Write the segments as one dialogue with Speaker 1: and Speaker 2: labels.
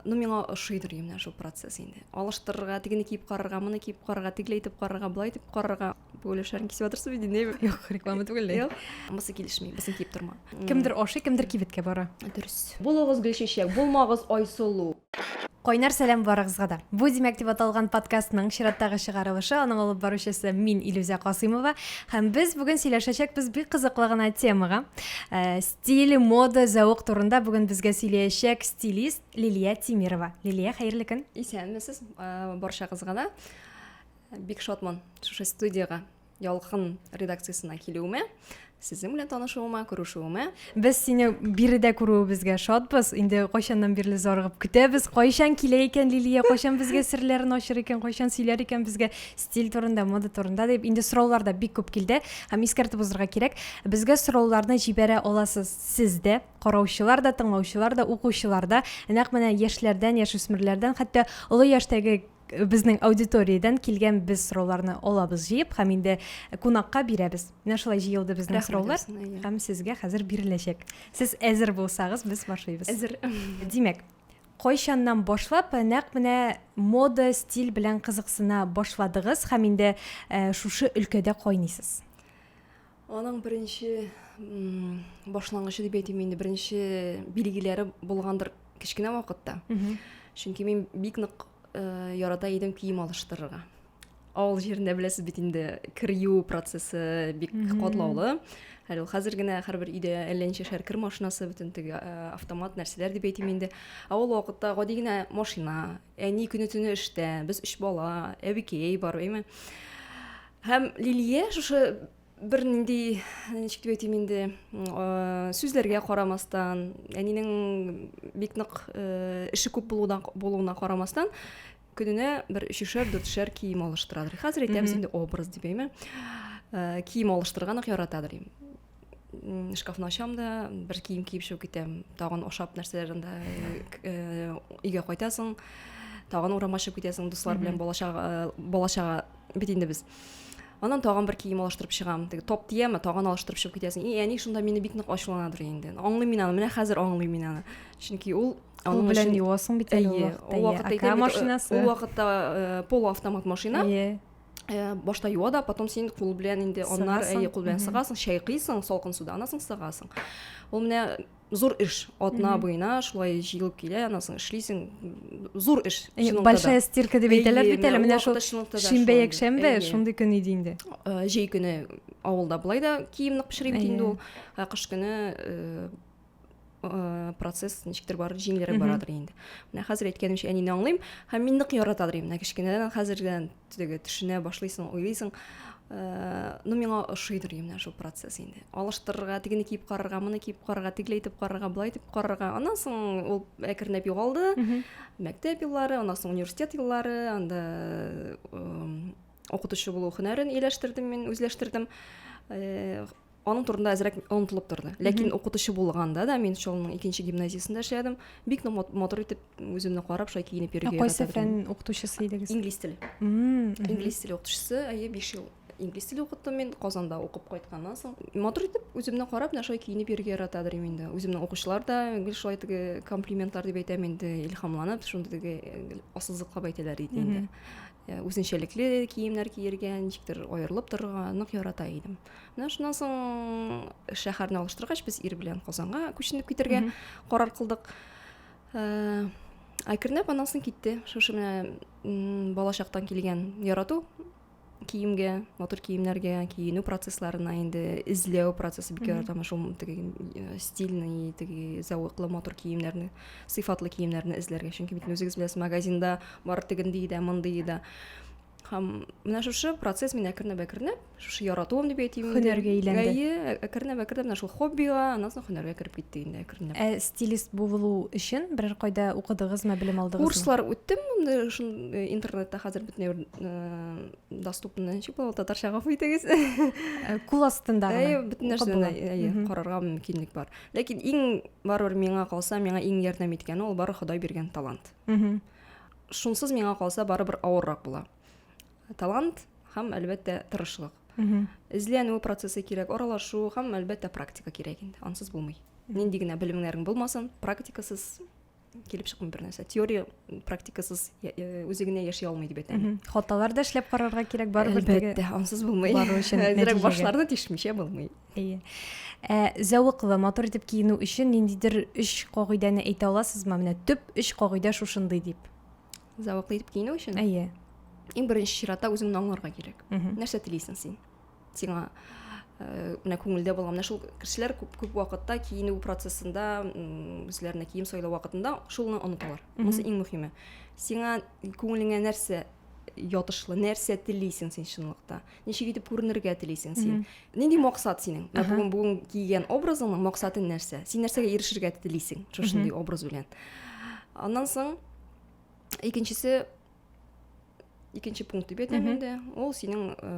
Speaker 1: Ну, миңа ошыйдыр менә шул процесс инде. Алыштырырга, тегене киеп карарга, моны киеп карарга, тегеләй итеп карарга, болай итеп карарга. Бу өлешләрен кисеп атырсыз бит инде. Юк, реклама түгел. Юк. Мысы килешми, безне киеп торма. Кемдер ашый, кемдер кибеткә бара. Дөрес. Булыгыз Гөлчәчәк, булмагыз Айсылу. Кайнар сәлам барыгызга да. Бу Димәк дип аталган подкастның чираттагы чыгарылышы, аның алып баручысы мин Илүзә Касыймова һәм без бүген сөйләшәчәкбез бик кызыклы гына темага. Э, Стиль, мода, зәвык турында бүген безгә сөйләячәк стилист Лилия Тимирова. Лилия, хәерле көн. Исәнмесез, барчагызга да. Бик шатман шушы студиягә ялкын редакциясенә килүемә сезнең белән танышуыма күрешүемә без сине биредә күрүебезгә шатбыз инде кайчаннан бирле зарыгып көтәбез кайчан килә икән лилия кайчан безгә серләрен ачыр икән кайчан сөйләр икән безгә стиль турында мода турында дип инде сораулар да бик күп килде һәм искәртеп узырга кирәк безгә сорауларны җибәрә аласыз сез дә караучылар да тыңлаучылар да укучылар да нәкъ менә яшьләрдән яшүсмерләрдән хәтта олы яшьтәге э, безнең аудиториядән килгән без сорауларны алабыз җыеп һәм инде кунакка бирәбез менә шулай җыелды безнең сораулар һәм сезгә хәзер биреләчәк сез әзер булсагыз без башлыйбыз әзер димәк кайчаннан башлап нәкъ менә мода, стиль белән кызыксына башладыгыз һәм инде шушы өлкәдә кайныйсыз? Аның беренче башлангычы дип әйтим инде, беренче билгеләре булгандыр кечкенә вакытта. Чөнки мин бик нык ярата идем кием алыштырырга. авыл җирендә беләсез бит инде кер юу процессы бик катлаулы әле ул хәзер генә һәрбер өйдә әллә ничәшәр кер машинасы бөтен теге автомат нәрсәләр дип әйтим инде ә ул вакытта гади генә машина әни көне төне эштә без өч бала әбекәй бар әйме һәм лилия шушы бер нинди ничек дип әйтим инде сүзләргә карамастан әнинең бик нык эше күп булудан булуына карамастан Көненә бер өчешәр, дүртшәр кием алыштырадыр. Хәзер әйтәбез инде образ дип әйме. Э, кием алыштырган ук яратадыр им. Шкафны ачам да, бер кием киеп чыгып китәм. Тагын ашап нәрсәләр анда э, э, өйгә кайтасың. Тагын урамга чыгып китәсең, дуслар белән балачага балачага бит инде без анан тагын бер кием алыштырып чыгам теге топ тияме тагын алыштырып чыгып китәсең и әни шунда мине бик нык ачуланадыр инде аңлыйм мин аны менә хәзер аңлыйм мин аны чөнки ул аның белән өчен... юасың бит әле ул вакытта ул вакытта машинасы ул вакытта э, полуавтомат машина э, башта юа да потом син кул белән инде аннары әйе кул белән сыгасың чайкыйсың салкын суда анан соң сыгасың ул менә зур эш атна буена шулай җыелып килә аннан соң эшлисең зур эш большая стирка дип әйтәләр бит әле менә шул шимбә якшәмбе шундый көн иде инде э, җәй көне авылда болай да кием нык пешерим бит инде ул ә кыш көне э, э, процесс ничектер бар җиңелрәк барадыр инде менә хәзер әйткәнемчә әнине аңлыйм һәм мин нык яратадыр инде кечкенәдән хәзердән теге төшенә башлыйсың уйлыйсың э, ну миңа ошыйдыр менә шул процесс инде алыштырырга тегене киеп карарга моны киеп карарга тегеләй итеп карарга былай итеп карарга аннан соң ул әкренләп югалды мәктәп еллары аннан соң университет еллары анда э, укытучы булу һөнәрен ияләштердем мин үзләштердем э, аның турында әзрәк онытылып торды ләкин укытучы булганда да мин шул аның икенче гимназиясендә эшләдем бик матур итеп үземне карап шулай киенеп йөрергә кайсы фән укытучысы идегез инглиз теле инглиз теле укытучысы әйе биш ел инглиз теле укыттым мин казанда укып кайтканнан соң матур итеп үземне карап менә шулай киенеп йөрергә ярата идем инде үземнең укучылар да гел шулай теге комплиментлар дип әйтәм инде илһамланып шундый теге ассызыклап әйтәләр иде инде Э, үзенчәлекле киемнәр киергә ничектер аерылып торырга нык ярата идем менә шуннан соң шәһәрне алыштыргач без ир белән казанга күченеп китәргә карар кылдык ә, әкренләп аннан соң китте шушы менә балачактан килгән ярату киемгә матур киемнәргә киенү процессларына инде эзләү процессы бик яратам шул теге э, стильный теге зәвыклы матур киемнәрне сыйфатлы киемнәрне эзләргә чөнки бит үзегез беләсез магазинда бар тегендей дә мондый да һәм менә шушы процесс мин әкренләп әкренләп шушы яратуым дип әйтим һөнәргә әйләнде әйе ә, әкренләп әкренләп менә шул хоббига аннан соң һөнәргә кереп китте инде әкренләп ә стилист булу өчен берәр кайда укыдыгызмы белем алдыгызмы курслар үттем э, интернетта хәзер бөтенләй бер э, доступный ничек була татарча гафу итегез э, кул астында әйе бөтен нәрсәдән әйе карарга мөмкинлек бар ләкин иң барыбер миңа калса миңа иң ярдәм иткәне ул бары ходай биргән талант шунсыз миңа калса барыбер авыррак була талант һәм әлбәттә тырышлык эзләнү процессы кирәк аралашу һәм әлбәттә практика кирәк инде ансыз булмый нинди генә белемнәрең булмасын практикасыз килеп чыкмый бер нәрсә теория практикасыз үзе генә яши алмый дип әйтәм хаталар да эшләп карарга кирәк барыбер әлбәттә ансыз булмый әзерәк башларны тишмичә булмый Әйе. Ә зәвыклы, матур итеп киенү өчен ниндидер өч кагыйдәне әйтә аласызмы? Менә төп өч кагыйдә шушындый дип. Зәвыклы итеп киенү өчен? Әйе. Иң беренче чиратта үзеңне аңларга кирәк. Нәрсә телисең син? Сиңа Э, менә күңелдә булган менә шул кешеләр күп күп вакытта киенү процессында үзләренә кием сайлау вакытында шуны оныталар монысы иң мөһиме сиңа күңелеңә нәрсә ятышлы нәрсә телисең син чынлыкта ничек итеп күренергә телисең син нинди максат синең бүгін бүгін киген образыңның максаты нәрсә син нәрсәгә ирешергә телисең шушындый образ белән аннан соң икенчесе икенче пункт дип әйтәм инде ул синең э,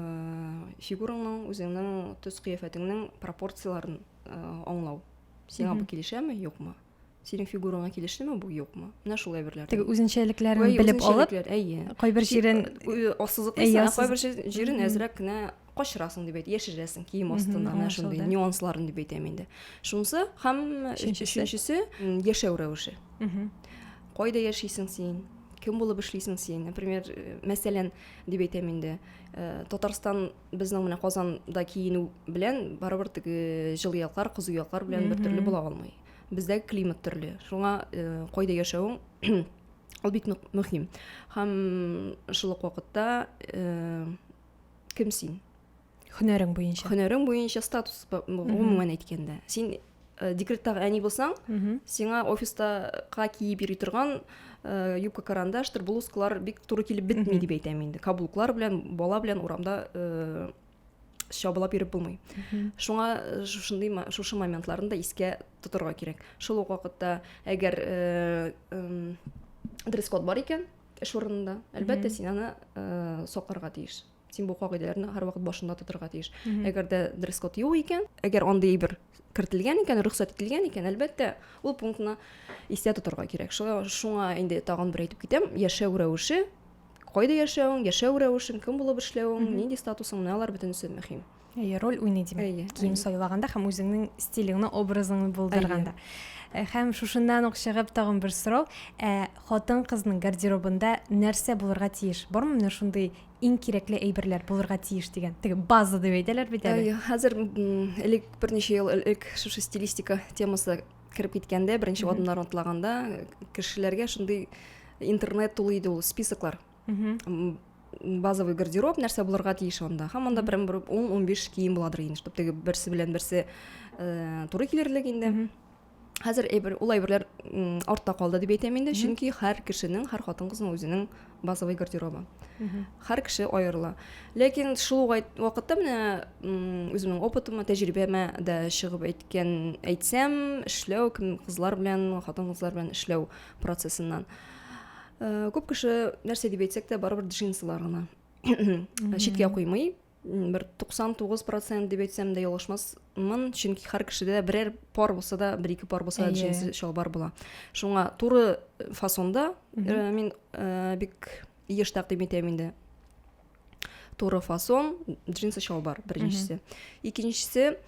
Speaker 1: фигураңның үзеңнең төс кыяфәтеңнең пропорцияләрен э, аңлау сиңа бу килешәме юкмы синең фигураңа килешлеме бу юкмы менә шул әйберләр теге үзенчәлекләрен белеп алып әйе кайбер җирен ассызыклыйсың ә кайбер җирен әзрәк кенә качырасың дип әйт яшерәсең кием астына менә шундый нюансларын дип әйтәм инде шунысы һәм өченчесе яшәү рәвеше кайда яшисең син кем булып эшлисең син например мәсәлән дип әйтәм инде э, татарстан безнең менә казанда киенү белән барыбер теге җылы яклар кызу яклар белән бер төрле була алмый бездә климат төрле шуңа э, кайда яшәвең ул бик нык мөһим һәм шул ук вакытта э, кем син һөнәрең буенча һөнәрең буенча статус гомумән әйткәндә син Э, декреттагы әни булсаң сиңа офистака киеп йөри торган э, юбка карандаштыр блузкалар бик туры килеп бетми дип әйтәм инде каблуклар белән бала белән урамда э, чабылап йөреп булмый шуңа шушындый шушы моментларны да искә тотырга кирәк шул ук вакытта әгәр дресс код бар икән эш урынында әлбәттә син аны сакларга тиеш син бу кагыйдәләрне һәрвакыт башында тотырга тиеш әгәр дә дресс код юк икән әгәр андый бер кертелгән икән рөхсәт ителгән икән әлбәттә ул пунктны истә тотырга кирәк шуңа инде тагын бер әйтеп китәм яшәү рәвеше кайда яшәвең яшәү рәвешең кем булып эшләвең нинди статусың менә алар бөтенесе мөһим Әйе, роль уйный димәк. Әйе. Кием сайлаганда һәм үзеңнең стилеңне, образыңны булдырганда. Э, һәм шушыннан ук чыгып тагын бер сорау. Ә хатын кызның гардеробында нәрсә булырга тиеш? Бармы менә шундый иң кирәкле әйберләр булырга тиеш дигән. Теге база дип әйтәләр бит әле. Әйе, хәзер элек берничә ел элек шушы стилистика темасы кереп киткәндә, беренче адымнар атлаганда кешеләргә шундый интернет тулы иде ул списоклар базовый гардероб нәрсә булырга тиеш анда һәм анда прям бер ун ун биш кием буладыр инде чтобы теге берсе белән берсе э, туры килерлек инде хәзер әйбер ул әйберләр артта калды дип әйтәм инде чөнки һәр кешенең һәр хатын кызның үзенең базовый гардеробы һәр кеше аерыла ләкин шул вакытта менә үземнең опытыма тәҗрибәмә дә чыгып әйткән әйтсәм эшләү кызлар белән хатын кызлар белән эшләү процессыннан Э, күп кеше нәрсә дип әйтсәк тә барыбер джинсылар гына читкә куймый бер 99 процент дип әйтсәм дә ялгышмасмын чөнки һәр кешедә берәр пар булса да бер ике пар булса да джинсы чалбар була шуңа туры э, фасонда э, мин бик еш тәкъдим итәм инде туры фасон джинсы чалбар беренчесе икенчесе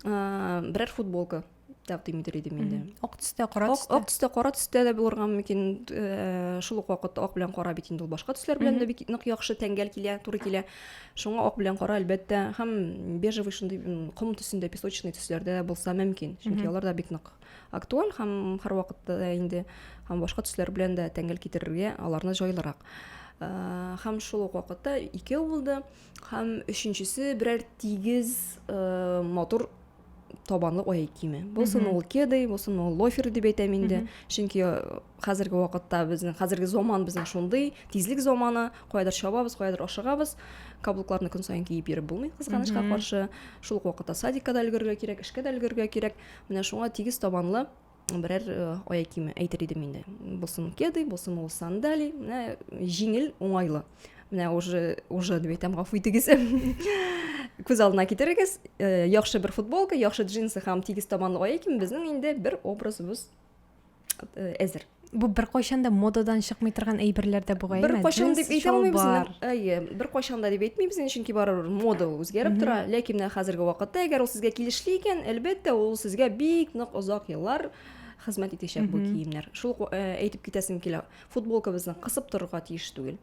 Speaker 1: берәр футболка дәп димидер идем инде ак төстә кара төстә ак төстә кара төстә дә булырга мөмкин э, шул ук вакытта ак белән кара бит инде ул башка төсләр белән дә бик нык яхшы тәңгәл килә туры килә шуңа ак белән кара әлбәттә һәм бежевый шундый ком төсендә песочный төсләрдә булса мөмкин чөнки алар да бик нык актуаль һәм һәрвакытта да инде һәм башка төсләр белән дә тәңгәл китерергә аларны җайлырак Э, һәм шул ук вакытта икәү булды һәм өченчесе берәр тигез э, матур табанлы ай киеме болсын ул кеды болсын ул лофер дип әйтәм инде чөнки хәзерге вакытта безнең хәзерге заман безнең шундый тизлек заманы каядыр чабабыз каядыр ашыгабыз каблукларны көн саен киеп йөреп булмый кызганычка каршы шул ук вакытта садикка да өлгерергә кирәк эшкә дә өлгерергә кирәк менә шуңа тигез табанлы берәр э, аяк киеме әйтер идем инде булсын кеды булсын ул сандали менә җиңел уңайлы менә уже уже дип әйтәм гафу итегез күз алдына китерегез э, яхшы бер футболка яхшы джинсы һәм тигез табанлы аяк кием безнең инде бер образыбыз э, әзер Бу бер кайчан да модадан чыкмый торган әйберләр дә бугай. Бер кайчан дип әйтә алмыйбыз. Әйе, бер кайчан да дип әйтмибез, чөнки барыбер мода ул үзгәреп тора. Ләкин менә хәзерге вакытта, әгәр ул сезгә килешле икән, әлбәттә, ул сезгә бик нык озак еллар хезмәт итәчәк бу киемнәр. Шул э, әйтеп китәсем килә. Футболкабызны кысып торырга тиеш түгел.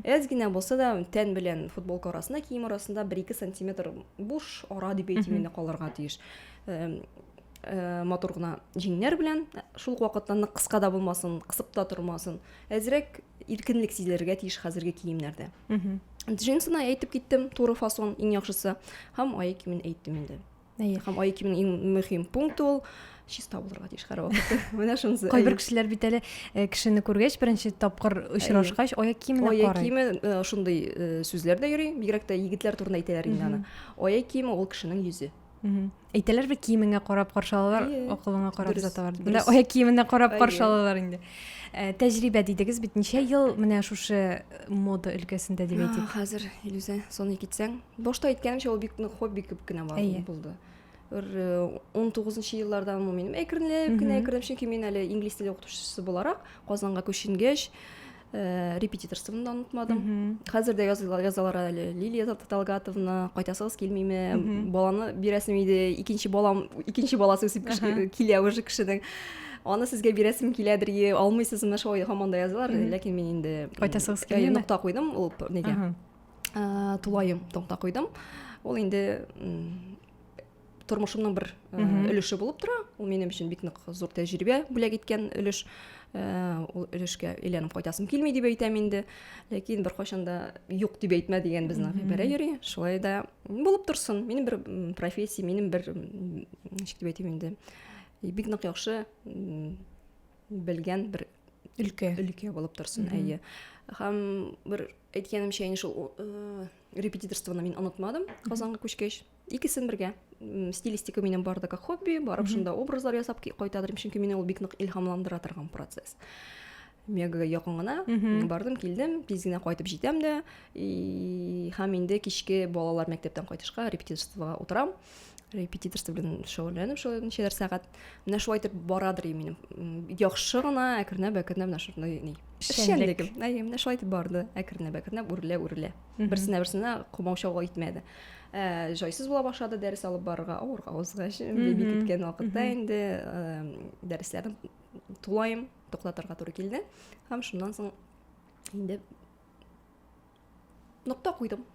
Speaker 1: Әз генә булса да тән белән футболка арасында, кием арасында 1-2 сантиметр буш ара дип әйтим инде калырга тиеш. Э, Э, матур гына җиңнәр белән шул ук вакытта нык кыска да булмасын кысып та тормасын әзрәк иркенлек сизелергә тиеш хәзерге киемнәрдә джинсына әйтеп киттем туры фасон иң яхшысы һәм аяк киемен әйттем инде әйе һәм аяк киемен иң мөһим пункт ул чиста булырга тиеш һәрвакытта менә шунысы кайбер кешеләр бит әле э, кешене күргәч беренче тапкыр очрашкач аяк киеменә карый аяк киеме э, шундый сүзләр дә йөри бигрәк тә егетләр турында әйтәләр инде аны аяк киеме ул кешенең йөзе әйтәләр бит киемеңә карап каршы алалар акылыңа карап озаталар менә аяк киеменә карап каршы алалар инде э, тәҗрибә дидегез бит ничә ел менә шушы э, мода өлкәсендә дип әйтик хәзер илүзә соны китсәң башта әйткәнемчә ул бик нык хобби кебек кенә булды бер э, он тугызынчы еллардан мин әкренләп кенә әкренләп чөнки мин әле инглиз теле укытучысы буларак казанга күченгәч ә, репетиторствоны да онытмадым mm -hmm. хәзер дә язалар, язалар әле лилия талгатовна кайтасыгыз килмиме mm -hmm. баланы бирәсем иде икенче балам икенче баласы үсеп uh -huh. килә уже кешенең аны сезгә бирәсем киләдер е алмыйсызмы шулай һаман да язалар mm -hmm. ләкин мин инде кайтасыгыз килмиме нокта куйдым ул нигә uh -huh. ә, тулаем нокта куйдым ул инде тормышымның бер э, өлеше булып тора ул минем өчен бик нык зур тәҗрибә бүләк иткән өлеш э, ул өлешкә әйләнеп кайтасым килми дип әйтәм инде ләкин беркайчан да юк дип әйтмә дигән безнең гыйбарә йөри шулай да булып торсын минем бер профессия минем бер ничек дип әйтим инде бик нык яхшы белгән бер өлкә өлкә булып торсын әйе һәм бер әйткәнемчә инде шул э, репетиторствоны мин онытмадым казанга күчкәч икесен бергә стилистика минем бар да как хобби барып шунда образлар ясап кайта торыйм чөнки мине ул бик нык илһамландыра торган процесс мегага якын гына бардым килдем тиз генә кайтып җитәм дә һәм инде кичке балалар мәктәптән кайтышка репетиторствога утырам репетиторство белән шөгыльләнеп шулай ничәләр сәгать менә шулай итеп барадыр минем яхшы гына әкренләп әкренләп менә шундай ни эшчәнлегем әйе менә шулай итеп барды әкренләп әкренләп үрелә үрелә берсенә берсенә комаучауга итмәде ә, жайсыз була башлады дәрес алып барырга авырга узгач беби киткән вакытта инде ә, дәресләрен тулаем туктатырга туры килде һәм шуннан соң инде нокта куйдым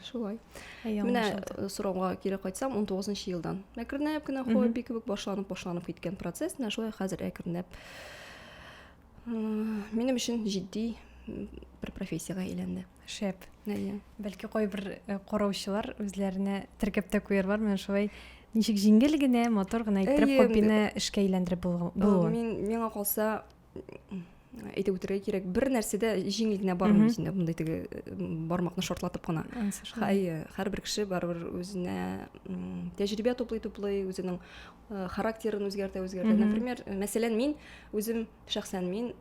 Speaker 1: шулай менә э, сорауга кире кайтсам он тогузынчы елдан әкренләп кенә хобби кебек башланып башланып киткән процесс менә шулай хәзер әкренләп Минем өчен җитди бер профессиягә әйләнде. Шәп. Әйе. Бәлки кайбер э, караучылар үзләренә теркәп тә куярлар, менә шулай ничек җиңел генә, матур гына иттереп хоббины эшкә әйләндереп булуын. Мин миңа калса әйтеп үтәргә кирәк, бер нәрсә дә җиңел генә бармый синдә, мондый теге бармакны шортлатып кына. Әйе, һәрбер кеше барыбер үзенә тәҗрибә туплый-туплый, үзенең э, характерын үзгәртә үзгәртә например э, мәсәлән мин үзем шәхсән мин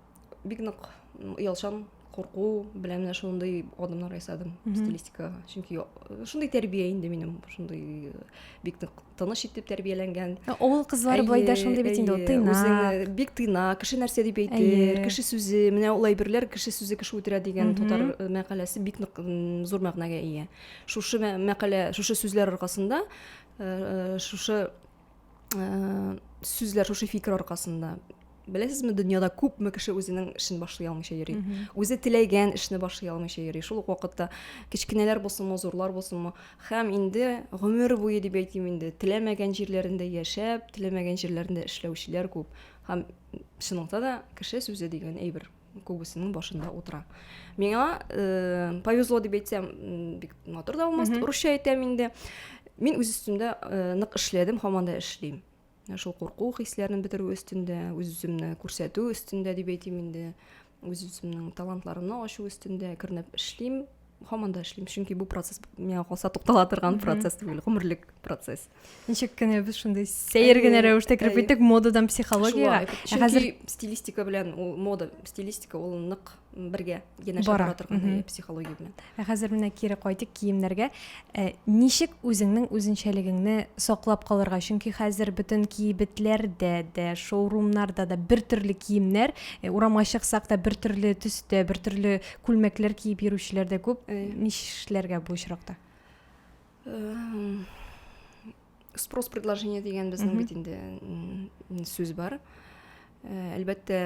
Speaker 1: бик нык оялчан курку белән менә шундый адымнар ясадым стилистикага чөнки э, шундый тәрбия инде минем шундый бик нык тыныч итеп тәрбияләнгән авыл кызлары былай да шундый бит инде тыйнак үзең бик тыйнак кеше нәрсә дип әйтер кеше сүзе менә ул әйберләр кеше сүзе кеше үтерә дигән татар мәкаләсе бик нык зур мәгънәгә ия шушы мәкалә шушы сүзләр аркасында шушы сүзләр шушы фикер аркасында беләсезме дөньяда күпме кеше үзенең эшен башлый алмыйча йөри үзе теләгән эшне башлый алмыйча йөри шул ук вакытта кечкенәләр булсынмы зурлар булсынмы һәм инде гомер буе дип әйтим инде теләмәгән җирләрендә яшәп теләмәгән җирләрендә эшләүчеләр күп һәм чынлыкта да кеше сүзе дигән әйбер күбесенең башында утыра миңа э, повезло дип әйтсәм бик матур да булмас русча әйтәм инде мин үз өстемдә э, нык эшләдем һаман да эшлим шул курку хисләрен бетерү өстендә үз үземне күрсәтү өстендә дип әйтим инде үз үземнең талантларымны ачу өстендә кернәп эшлим һаман да эшлим чөнки бу процесс миңа калса туктала торган процесс түгел гомерлек процесс ничек кенә без шундый сәер генә рәвештә кереп киттек модадан психологиягә ә хәзер стилистика белән ул мода стилистика ул нык бергә янәшә бара торган психология белән ә хәзер менә кире кайтыйк киемнәргә ә, ничек үзеңнең үзенчәлегеңне саклап калырга чөнки хәзер бөтен кибетләрдә дә шоурумнарда да бер төрле киемнәр урамга чыксак та бер төрле төстә бер төрле күлмәкләр киеп йөрүчеләр дә күп э, нишләргә бу очракта эм, спрос предложение дигән безнең бит инде м, сүз бар Э, әлбәттә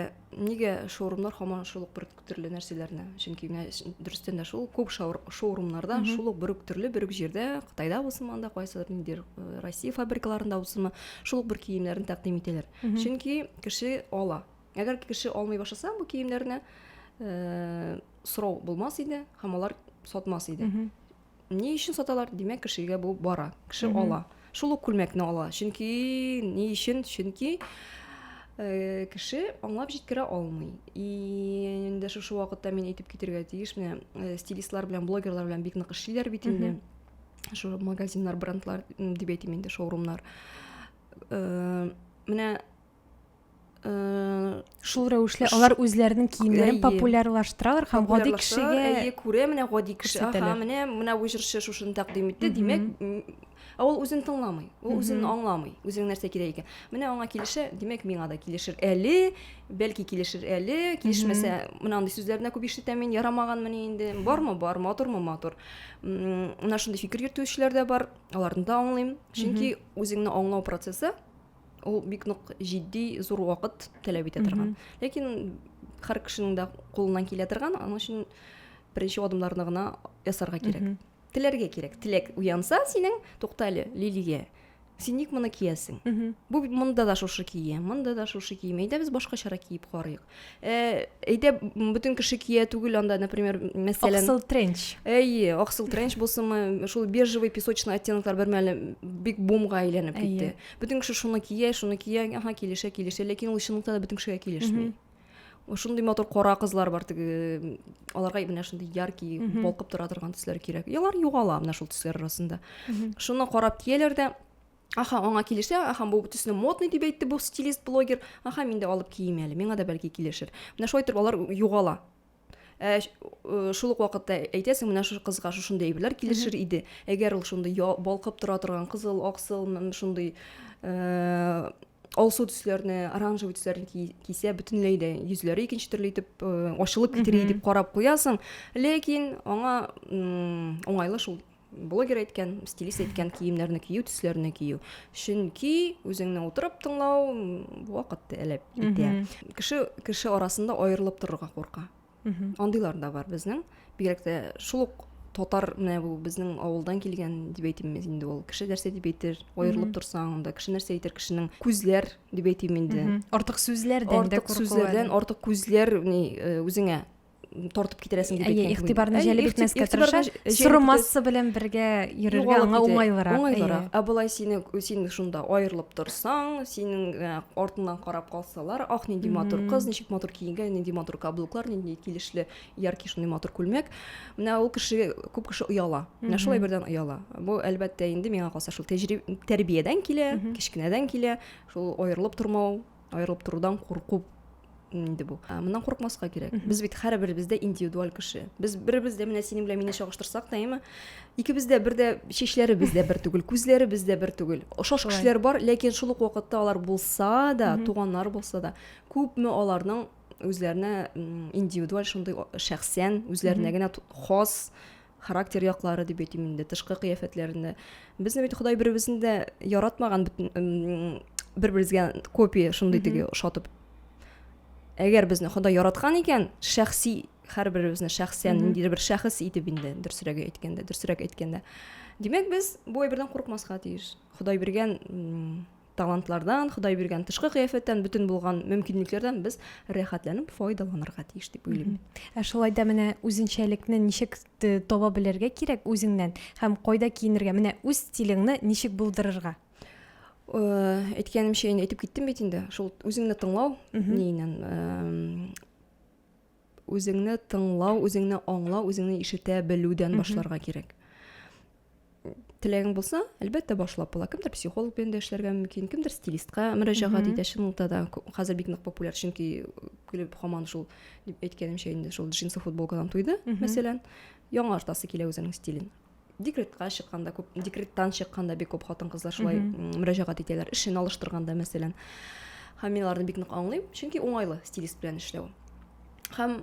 Speaker 1: нигә шоурумнар һаман шул ук бер төрле нәрсәләрне чөнки менә ш- дөрестән дә шул күп шаур- шоурумнарда Мгм. шул ук бер үк төрле бер үк җирдә кытайда булсын анда кайсыдыр ниндидер э, россия фабрикаларында булсынмы шул ук бер киемнәрне тәкъдим итәләр Мгм. чөнки кеше ала Әгәр кеше алмый башласа бу киемнәрне, э, сорау булмас иде һәм алар сатмас иде. Ни өчен саталар? Димәк, кешегә бу бара. Кеше ала. Шул ук күлмәкне ала. Чөнки ни өчен? Чөнки э, кеше аңлап җиткерә алмый. И инде шушы вакытта мин әйтеп китергә тиеш, менә э, стилистлар белән блогерлар белән бик нык эшлиләр бит инде. Шул магазиннар, брендлар дип әйтим инде, шоурумнар. Э, менә шул рәвешле алар үзләренең киемнәрен популярлаштыралар һәм гади кешегә әйе күрә менә гади кеше аха менә менә бу җырчы шушыны тәкъдим итте димәк ә ул үзен тыңламый ул үзен аңламый үзенең нәрсә кирәк икән менә аңа килешә димәк миңа да килешер әле бәлки килешер әле килешмәсә менә андый сүзләрне күп ишетәм мин ярамаганмыни инде бармы бар матурмы матур менә шундый фикер йөртүчеләр дә бар аларны да аңлыйм чөнки үзеңне аңлау процессы ул бик нык җитди зур вакыт таләп итә торган ләкин һәр кешенең дә кулыннан килә торган аның өчен беренче адымнарны гына ясарга кирәк теләргә кирәк теләк уянса синең тукта әле лилия син ник моны киясең бу монда да шушы кие монда да шушы кием әйдә без башкачарак киеп карыйк Э, әйдә бөтен кеше кия түгел анда например мәсәлән аксыл тренч әйе аксыл тренч булсынмы шул бежевый песочный оттенклар бер мәле бик бумга әйләнеп китте бөтен кеше шуны кия шуны кия аха килешә килешә ләкин ул чынлыкта да бөтен кешегә килешми шундый матур кара кызлар бар теге аларга менә шундый яркий балкып тора торган төсләр кирәк алар югала менә шул төсләр арасында шуны карап кияләр дә Аха, аңа килешә, аха, бу бөтесенә модный дип әйтте бу стилист блогер. Аха, мин дә алып кием әле, миңа да бәлки килешер. Менә шулай торып алар югала. Ә, э, шул ук вакытта әйтәсең, менә шушы кызга шушындый әйберләр килешер иде. Әгәр ул шундый балкып тора торган кызыл, аксыл, шундый э, алсу төсләрне оранжевый төсләрне кисә бөтенләй дә йөзләре икенче төрле итеп э, ачылып китери дип карап куясың ләкин аңа уңайлы шул блогер әйткән стилист әйткән киемнәрне кию төсләрне кию чөнки үзеңне утырып тыңлау вакытты әләп итә кеше кеше арасында аерылып торырга курка андыйлар да бар безнең бигрәк тә шул ук татар менә бу безнең авылдан килгән дип әйтим мин инде ул кеше нәрсә дип әйтер аерылып торсаң анда кеше нәрсә әйтер кешенең күзләр дип әйтим инде артык сүзләрдән артык сүзләрдән артык күзләр ни э, үзеңә тартып китерәсең дип әйткән игътибарны җәлеп итмәскә тырыша соры масса белән бергә йөрергә аңа уңайлырак уңайлырак ә болай сине син шунда аерылып торсаң синең э, артыңнан карап Салар, ах, нинди матур кыз, ничек матур киенгән, нинди матур каблуклар, нинди килешле, яркий шундый матур күлмәк. Менә ул кеше, күп кеше ояла. Менә шулай бердән ояла. Бу, әлбәттә, инде миңа калса шул тәҗриб... тәрбиядән килә, кечкенәдән килә, шул аерылып тормау, аерылып торудан курку инде бу. Ә, моннан курыкмаска кирәк. Без бит һәрберебез дә индивидуаль кеше. Без беребез дә менә синең белән мине чагыштырсак та, әйме, Икебез дә бер дә чәчләребез дә бер түгел, күзләребез дә бер түгел. Ошаш кешеләр бар, ләкин шул ук вакытта алар булса да, туганнар булса да, күпме аларның үзләренә индивидуаль шундый шәхсән, үзләренә генә хас характер яклары дип әйтим инде, тышкы кыяфәтләрендә. Безне бит Ходай беребезне дә яратмаган бер-беребезгә копия шундый теге ошатып. Әгәр безне Ходай яраткан икән, шәхси һәрберебезне шәхсән mm -hmm. ниндидер бер шәхес итеп инде дөресрәге әйткәндә дөресрәк әйткәндә димәк без бу әйбердән курыкмаска тиеш ходай биргән талантлардан ходай биргән тышкы кыяфәттән бөтен булган мөмкинлекләрдән без рәхәтләнеп файдаланырга тиеш дип уйлыйм ә шулай да менә үзенчәлекне ничек таба белергә кирәк үзеңнән һәм кайда киенергә менә үз стилеңне ничек булдырырга әйткәнемчә инде әйтеп киттем бит инде шул үзеңне тыңлау ниеннән үзеңне тыңлау үзеңне аңлау үзеңне ишетә белүдән башларга кирәк теләгең булса әлбәттә башлап була кемдер психолог белән дә эшләргә мөмкин кемдер стилистка мөрәҗәгать итә чынлыкта да хәзер бик нык популяр чөнки клип һаман шул дип әйткәнемчә инде шул джинсы футболкадан туйды мәсәлән яңартасы килә үзенең стилен декретка чыкканда күп декреттан чыкканда бик күп хатын кызлар шулай мөрәҗәгать итәләр эшен алыштырганда мәсәлән һәм мин аларны бик нык аңлыйм чөнки уңайлы стилист белән эшләү һәм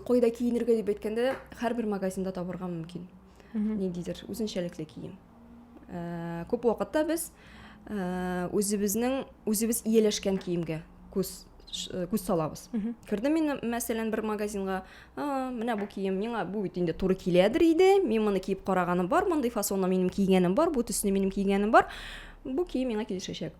Speaker 1: кайда киенергә дип әйткәндә һәрбер магазинда табырга мөмкин ниндидер үзенчәлекле кием э, күп вакытта без э, үзебезнең үзебез ияләшкән киемгә күз э, күз салабыз кердем мин мәсәлән бер магазинга А, менә бу кием миңа бу бит инде туры киләдер иде. Мин моны киеп караганым бар, мондый фасонны минем кигәнем бар, бу төсне минем кигәнем бар. Бу кием миңа килешәчәк.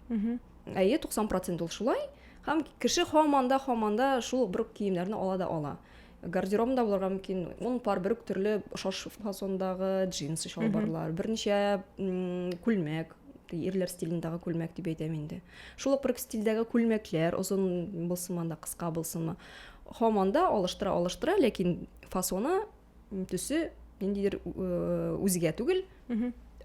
Speaker 1: Әйе, 90% ул шулай. Һәм кеше һаман да, һаман да шул бер үк киемнәрне ала да ала. Гардеробында булырга мөмкин, ун пар бер үк төрле шаш фасондагы джинсы чалбарлар, берничә м, күлмәк, ирләр стилендагы күлмәк дип әйтәм инде. Шул ук бер үк стильдәге күлмәкләр, озын булсынмы анда, кыска булсынмы. Һаман да алыштыра алыштыра, ләкин фасоны, төсе ниндидер үзгә түгел.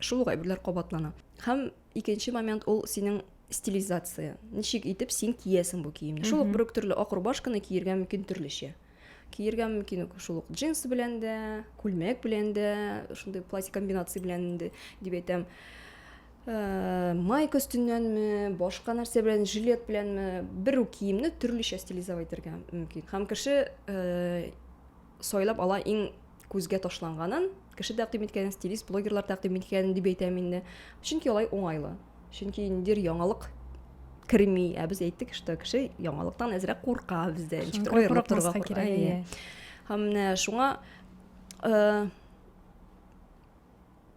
Speaker 1: Шул ук әйберләр кабатлана. Һәм икенче момент ул синең стилизация. Ничек итеп син киясең бу киемне? Шул ук бер үк төрле ак рубашканы киергә мөмкин төрлечә. Киергә мөмкин шул ук джинс белән дә, күлмәк белән дә, шундый платье комбинация белән дә дип әйтәм. майка өстеннәнме башка нәрсә белән жилет беләнме бер үк киемне төрлечә стилизовать итәргә мөмкин һәм кеше сайлап ала иң күзгә ташланганын кеше тәкъдим иткәнен стилист блогерлар тәкъдим иткәнен дип әйтәм инде чөнки алай уңайлы чөнки ниндидер яңалык керми ә без әйттек что кеше яңалыктан әзрәк курка бездә ничектер аерылып торырга кирәк һәм менә шуңа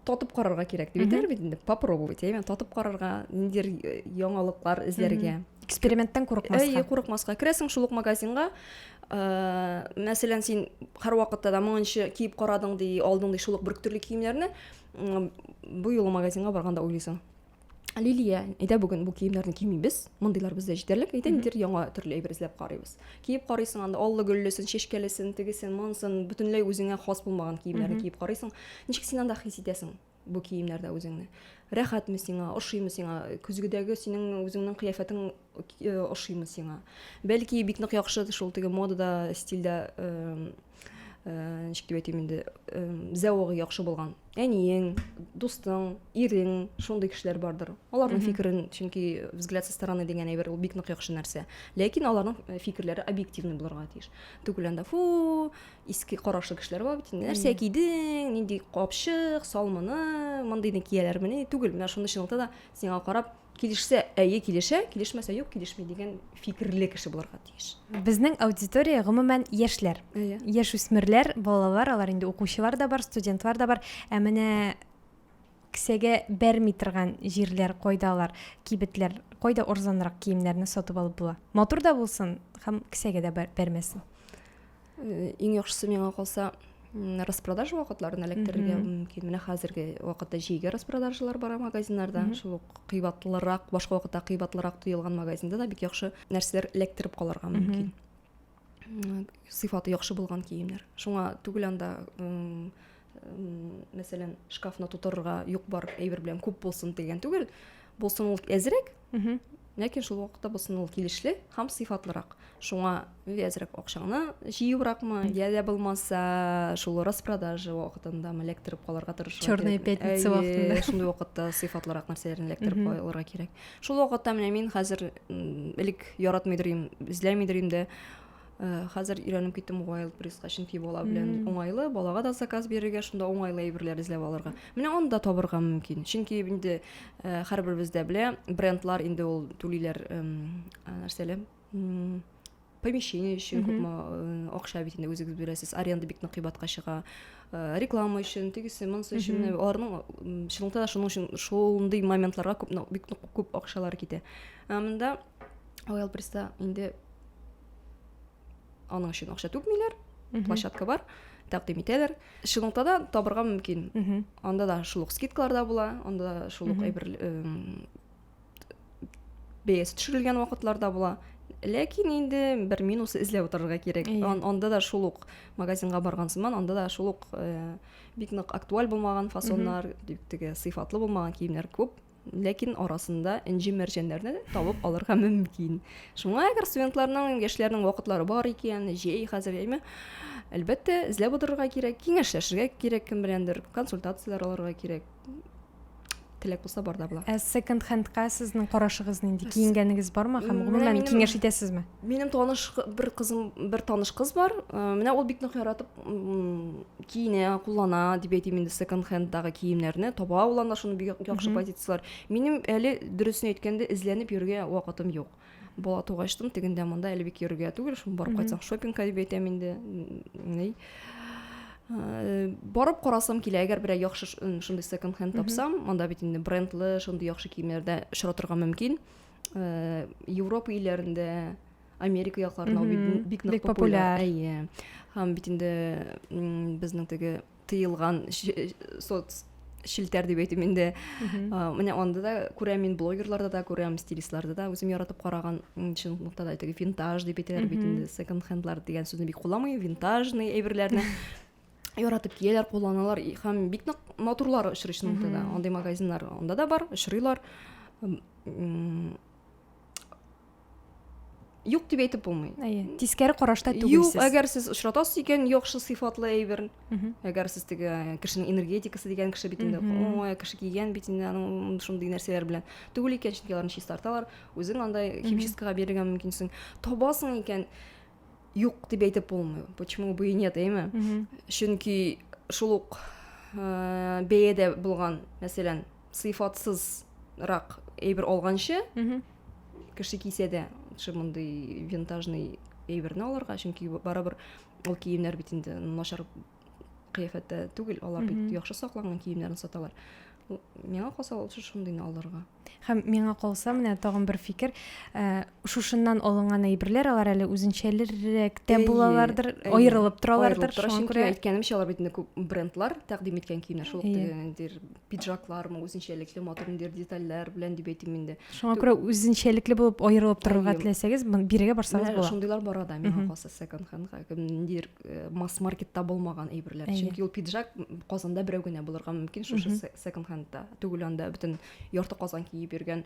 Speaker 1: татып карарга кирәк дип әйтәләр бит инде попробовать әйме татып карарга ниндидер э, яңалыклар эзләргә эксперименттан курыкмаска әйе курыкмаска керәсең шул ук магазинга э, мәсәлән син һәрвакытта да моңынчы киеп карадың ди алдың ди шул ук бер төрле киемнәрне бу юлы магазинга барганда уйлыйсың Лилия, әйдә бүген бу киемнәрне кимибез. Мондыйлар бездә җитәрлек. Әйдә нидер яңа төрле әйбер эзләп карыйбыз. Киеп карыйсың анда аллы гөллесен, чәчкәлесен, тегесен, монсын, бөтенләй үзеңә хас булмаган киемнәрне киеп карыйсың. Ничек син анда хис итәсең бу киемнәрдә үзеңне? Рәхәтме сиңа, ошыймы сиңа? Көзгедәге синең үзеңнең кыяфәтең э, ошыймы сиңа? Бәлки бик нык яхшы шул теге модада, стильдә э, ничек дип әйтим инде зәвыгы яхшы булган әниең дустың ирең шундый кешеләр бардыр аларның фикерен чөнки взгляд со стороны дигән әйбер ул бик нык яхшы нәрсә ләкин аларның э, фикерләре объективный булырга тиеш түгел анда фу иске карашлы кешеләр бар бит нәрсә кидең нинди капчык салмыны мондыйны кияләрмени түгел менә шуны чынлыкта да сиңа карап Килешсә, әйе килешә, килешмәсә, юк килешми дигән фикерле кеше булырга тиеш. Безнең аудитория гомумән яшьләр. Әйе. Яшь үсмерләр, балалар, алар инде укучылар да бар, студентлар да бар. Ә менә кесәгә бәрми торган җирләр кайда алар? Кибетләр кайда орзанрак киемнәрне сатып алып була? Матур да булсын һәм кесәгә дә бәрмәсен. Э, иң яхшысы миңа калса распродажа вакытларын эләктерергә мөмкин менә хәзерге вакытта җәйге распродажалар бара магазиннарда шул ук кыйбатлырак башка вакытта кыйбатлырак тоелган магазинда да бик яхшы нәрсәләр эләктереп калырга мөмкин сыйфаты яхшы булган киемнәр шуңа түгел анда мәсәлән шкафны тутырырга юк бар әйбер белән күп булсын дигән түгел булсын ул әзрәк ләкин шул вакытта булсын ул килешле һәм сыйфатлырак шуңа әзрәк акчаңны җыюракмы я дә булмаса шул распродажа вакытында эләктереп калырга тырышу черная пятница вакытында шундый вакытта сыйфатлырак нәрсәләрне эләктереп калырга кирәк шул вакытта менә мин хәзер элек яратмыйдыр идем эзләмидер идем дә Э, хәзер өйрәнеп киттем wild пресска чөнки бала белән уңайлы балага да заказ бирергә шунда уңайлы әйберләр эзләп алырга менә аны да табырга мөмкин чөнки инде э, һәрберебез дә белә брендлар инде ул түлиләр нәрсәле помещение өчен күпме э, акча бит инде үзегез бирәсез аренда бик нык кыйбатка чыга реклама өчен тегесе монысы өчен аларның чынлыкта да шуның өчен шундый моментларга күп бик күп акчалар китә ә монда ойл пресста инде аның өчен акча түкмиләр площадка бар тәкъдим итәләр шилонгта да табырга мөмкин анда да шул ук скидкалар да була анда да шул ук әйбер бәясе төшерелгән вакытлар да була ләкин инде бер минусы эзләп утырырга кирәк анда да шул ук магазинга барган сыман анда да шул ук э, бик нык актуаль булмаган фасоннар теге сыйфатлы булмаган киемнәр күп ләкин арасында энҗе мәрҗәннәрне табып алырга мөмкин шуңа әгәр студентларның яшьләрнең вакытлары бар икән җәй хәзер яме әлбәттә эзләп утырырга кирәк киңәшләшергә кирәк кем беләндер консультацияләр алырга кирәк теләк булса бар да була ә секонд хендка сезнең карашыгыз нинди киенгәнегез бармы һәм гомумән киңәш итәсезме минем таныш бер кызым бер таныш кыз бар менә ул бик нык яратып киенә куллана дип әйтим инде секонд хендлдагы киемнәрне таба алган да шуны бик яхшы позицияләр минем әле дөресен әйткәндә эзләнеп йөрергә вакытым юк бала тугачтын тегендә монда әле бик йөрергә түгел шуны барып кайтсаң шопингка дип әйтәм инде ни э, барып карасам килә әгәр берәр яхшы шундый секонд хенд тапсам монда бит инде брендлы шундый яхшы киемнәрдә очратырга мөмкин э, европа илләрендә Америка якларында ул бик- бик нык Бик популяр. популяр. Әйе. Һәм бит инде м, безнең теге тыелган ш- соц челтәр дип әйтим инде. А, Менә анда да күрәм мин блогерларда да күрәм, стилистларда да үзем яратып караган м, чынлыкта да теге винтаж дип әйтәләр бит инде. Секонд хендлар дигән сүзне бик кулламый, винтажный әйберләрне яратып кияләр, кулланалар и- һәм бик нык матурлар очрый чынлыкта да. Андый магазиннар анда да бар, очрыйлар. М, м, юк дип әйтеп булмый әйе тискәре карашта түгелсез юк әгәр сез очратасыз икән яхшы сыйфатлы әйберн әгәр сез теге э, кешенең энергетикасы дигән кеше бит инде ой кеше кигән бит инде аның шундый нәрсәләр белән түгел икән чөнки аларны чистарталар үзең андай химчисткага бирергә мөмкинсең табасың икән юк дип әйтеп булмый почему бы и нет әйме чөнки шул ук э, бәядә булган мәсәлән сыйфатсыз рак әйбер алганчы кеше кисә дә шул мондый винтажный әйберне алырга чөнки барыбер ул киемнәр бит инде начар кыяфәттә түгел алар бит яхшы сакланган киемнәрне саталар миңа калса ул шундыйны алырга һәм миңа калса менә тагын бер фикер ә, шушыннан алынган әйберләр алар әле үзенчәлеррәк тә булалардыр аерылып торалардыр шуңа күрә әйткәнемчә алар бит күп брендлар тәкъдим иткән киемнәр шул ниндидер пиджаклармы үзенчәлекле матур ниндидер детальләр белән дип әйтим инде шуңа күрә үзенчәлекле булып аерылып торырга теләсәгез бирегә барсагыз була шундыйлар бара да миңа калса секонд хендга ниндидер э, масс маркетта булмаган әйберләр чөнки ул пиджак казанда берәү генә булырга мөмкин шушы секонд хендта түгел анда бөтен ярты казан киеп йөргән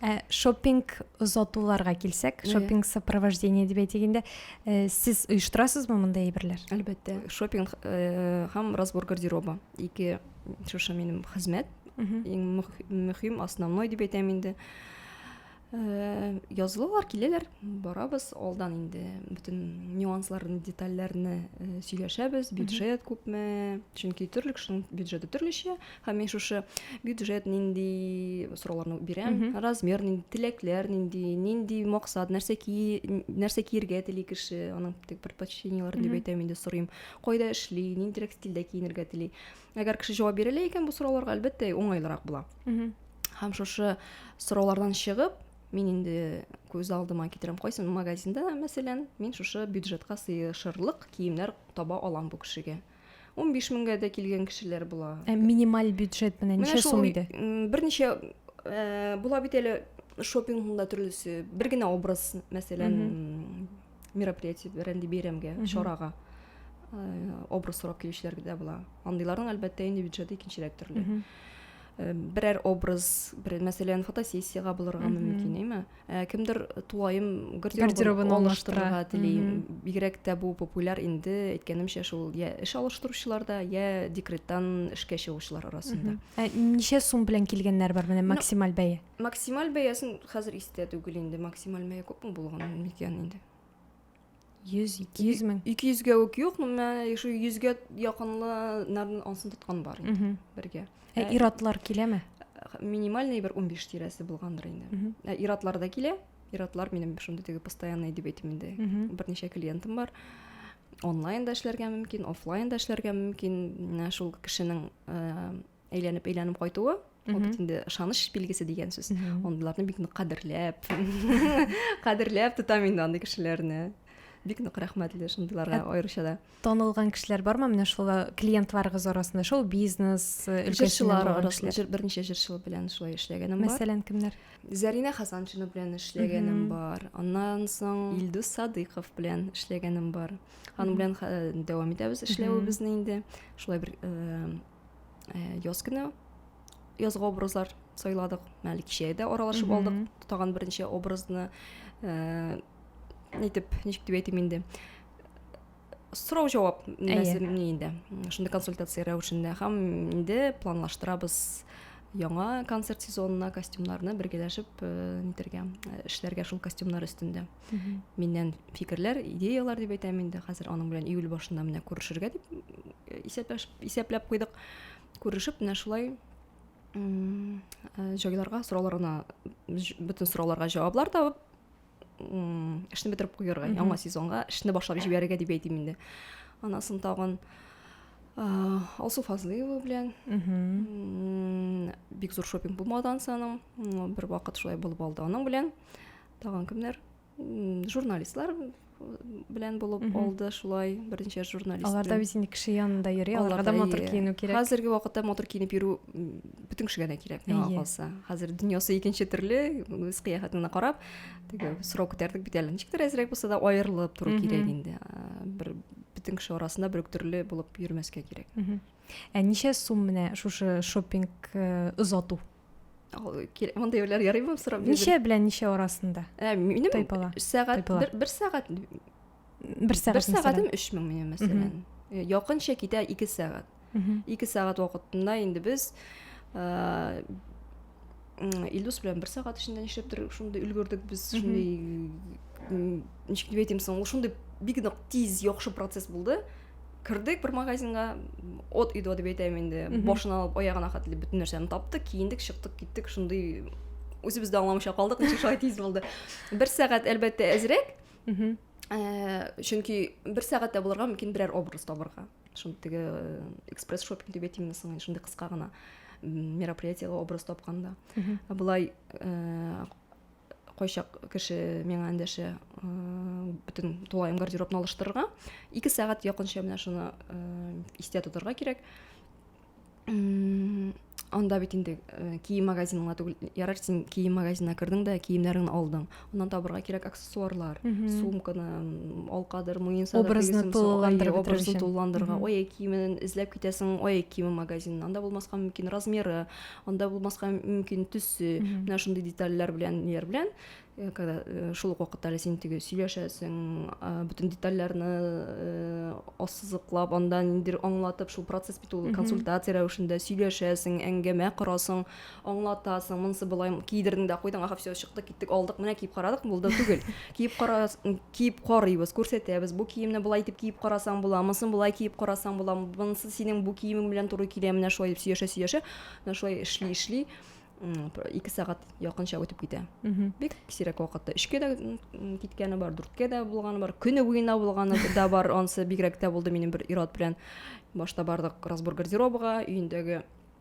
Speaker 1: Ә шоппинг озатуларга килсәк, шоппинг сопровождение дип әйтгәндә, э, сез оештырасызмы мондай әйберләр? Әлбәттә, шоппинг э, һәм разбор гардероба. Ике шушы минем хезмәт. Иң мөһим, основной дип әйтәм инде. Э, язылулар киләләр, барабыз, алдан инде бөтен нюансларны, детальләрне сөйләшәбез, бюджет күпме, чөнки төрле кешенең бюджеты төрлечә, Һәм мин шушы бюджет нинди сорауларны бирәм, размер нинди, теләкләр нинди, нинди максат, нәрсә ки, нәрсә киергә тели кеше, аның тек предпочтениеләрен дип әйтәм инде сорыйм. Кайда эшли, ниндирәк стильдә киенергә тели. Әгәр кеше җавап бирә икән бу сорауларга, әлбәттә, уңайлырак була. Һәм шушы сораулардан чыгып, мин инде күз алдыма китерәм, кайсы магазинда, мәсәлән, мин шушы бюджетка сыешырлык киемнәр таба алам бу кешегә. 15 меңгә дә килгән кешеләр була. Ә минималь бюджет менә ничә сум иде? Берничә э, була бит әле шопингында төрлесе. Бер генә образ, мәсәлән, мероприятие бәрәнди бәйрәмгә, чарага э, образ сорап килүчеләр дә була. Андыйларның әлбәттә инде бюджеты икенчерәк төрле. Э, берәр образ, бер мәсәлән, фотосессиягә булырга мөмкин, әйме? Ә, кемдер тулаем гардеробын алыштырырга тели бигрәк тә бу популяр инде әйткәнемчә шул я эш алыштыручыларда я декреттан эшкә чыгучылар арасында ә ничә сум белән килгәннәр бар менә максималь бәя максималь бәясен хәзер истә түгел инде максималь бәя күпме булган микән инде Йөз, ике йөз мең. Ике йөзгә үк юк, мә шул йөзгә якынлыларын ансын тоткан бар инде бергә. Ә, ә иратлар киләме? Минимальный бер 15 тирәсе булгандыр инде. Ә иратлар да килә. Иратлар минем шундый теге постоянный дип әйтим инде. Берничә клиентым бар. Онлайн да эшләргә мөмкин, офлайн да эшләргә мөмкин. Менә шул кешенең э, әйләнеп әйләнеп кайтуы ул бит инде ышаныч билгесе дигән сүз андыйларны бик нык кадерләп кадерләп тотам инде андый кешеләрне бик нык рәхмәтле шундыйларга аеруча да танылган кешеләр бармы менә шул э, клиентларыгыз арасында шоу бизнес э, өлкәсеннән арасында берничә җырчылар белән шулай эшләгәнем бар мәсәлән кемнәр зәринә хасаншина белән эшләгәнем бар аннан соң илдус садыйков белән эшләгәнем бар аның белән э, дәвам итәбез эшләвебезне инде шулай бер э, Йоскина язгы образлар сайладык. Мәле кичә дә аралашып алдык. Тагын беренче образны э, нитеп, ничек дип әйтим инде. Сорау җавап нәзерне инде. Шунда консультация рәвешендә һәм инде планлаштырабыз яңа концерт сезонына костюмнарны бергәләшеп э, нитергә, э, эшләргә шул костюмнар өстендә. миннән фикерләр идеялар дип әйтәм инде хәзер аның белән июль башында менә күрешергә дип э, исәпләп куйдык күрешеп менә шулай җайларга э, сорауларына бөтен сорауларга җаваплар табып эшне бетереп куярга яңа сезонга эшне башлап җибәрергә дип әйтим инде анасын тагын алсу фазлыева белән бик зур шопинг булмады ансаның бер вакыт шулай булып алды аның белән тагын кемнәр журналистлар белән булып алды шулай берничә журналист алар да бит инде кеше янында йөри аларга да матур киенү кирәк хәзерге вакытта матур киенеп йөрү бөтен кешегә дә кирәк миңа калса хәзер дөньясы икенче төрле үз кыяфәтеңне карап теге сорау күтәрдек бит әле ничектер әзрәк булса да аерылып тору кирәк инде бер бөтен кеше арасында бер төрле булып йөрмәскә кирәк ә ничә сум менә шушы шоппинг озату мондай уйлар ярыймы сорап ничә белән ничә арасында ә, минем тайпала сәгать бер, бер сәгать бер сәгать бер сәгатем өч мең минем мәсәлән э, якынча китә ике сәгать ике сәгать вакытында инде без э, илдус белән бер сәгать эчендә нишләптер шундый өлгердек без шундый ничек дип әйтим соң ул шундый бик нык тиз яхшы процесс булды кердек бер магазинга от өйдө деп әйтәм инде башын алып аягына хәтле бөтен нәрсәне таптык киендек чыктык киттек шундый үзебез дә аңламыйча калдык ничек шулай тиз булды бер сәгать әлбәттә әзрәк чөнки бер сәгатьтә булырга мөмкин берәр образ табырга шундый теге экспресс шопинг дип әйтимме соң шундый кыска гына мероприятиега образ тапканда былай кайчак кеше миңа эндәшә бөтен тулаем гардеробны алыштырырга ике сәгать якынча менә шуны истә тотарга кирәк анда бит инде кием магазин гына түгел ярар син кием магазинына кердең дә киемнәреңне алдың аннан табырга кирәк аксессуарлар сумканы алкадыр муенсадыртулыландырырга ой киемен эзләп китәсең ой киеме магазинында анда булмаска мөмкин размеры анда булмаска мөмкин төсе менә шундый детальләр белән ниләр белән э, когда э, шул ук вакытта әле син теге сөйләшәсең бөтен детальләрне э, ассызыклап анда ниндидер аңлатып шул процесс бит ул консультация рәвешендә сөйләшәсең әңгәмә корасың аңлатасың монысы былай кидердең дә куйдың аха все чыкты киттек алдык менә киеп карадык булды түгел киеп кара Киеп карыйбыз, күрсәтәбез, бу киемне болай итеп киеп карасаң була, монысын болай киеп карасаң була, монысы синең бу киемең белән туры килә, менә шулай дип сөйләшә-сөйләшә, менә шулай эшли-эшли, ике сәгать якынча үтеп китә. Бик сирәк вакытта өчкә дә киткәне бар, дүрткә дә булганы бар, көне буена булганы да бар, анысы бигрәк тә булды минем бер ир-ат белән. Башта бардык разбор гардеробыга, өендәге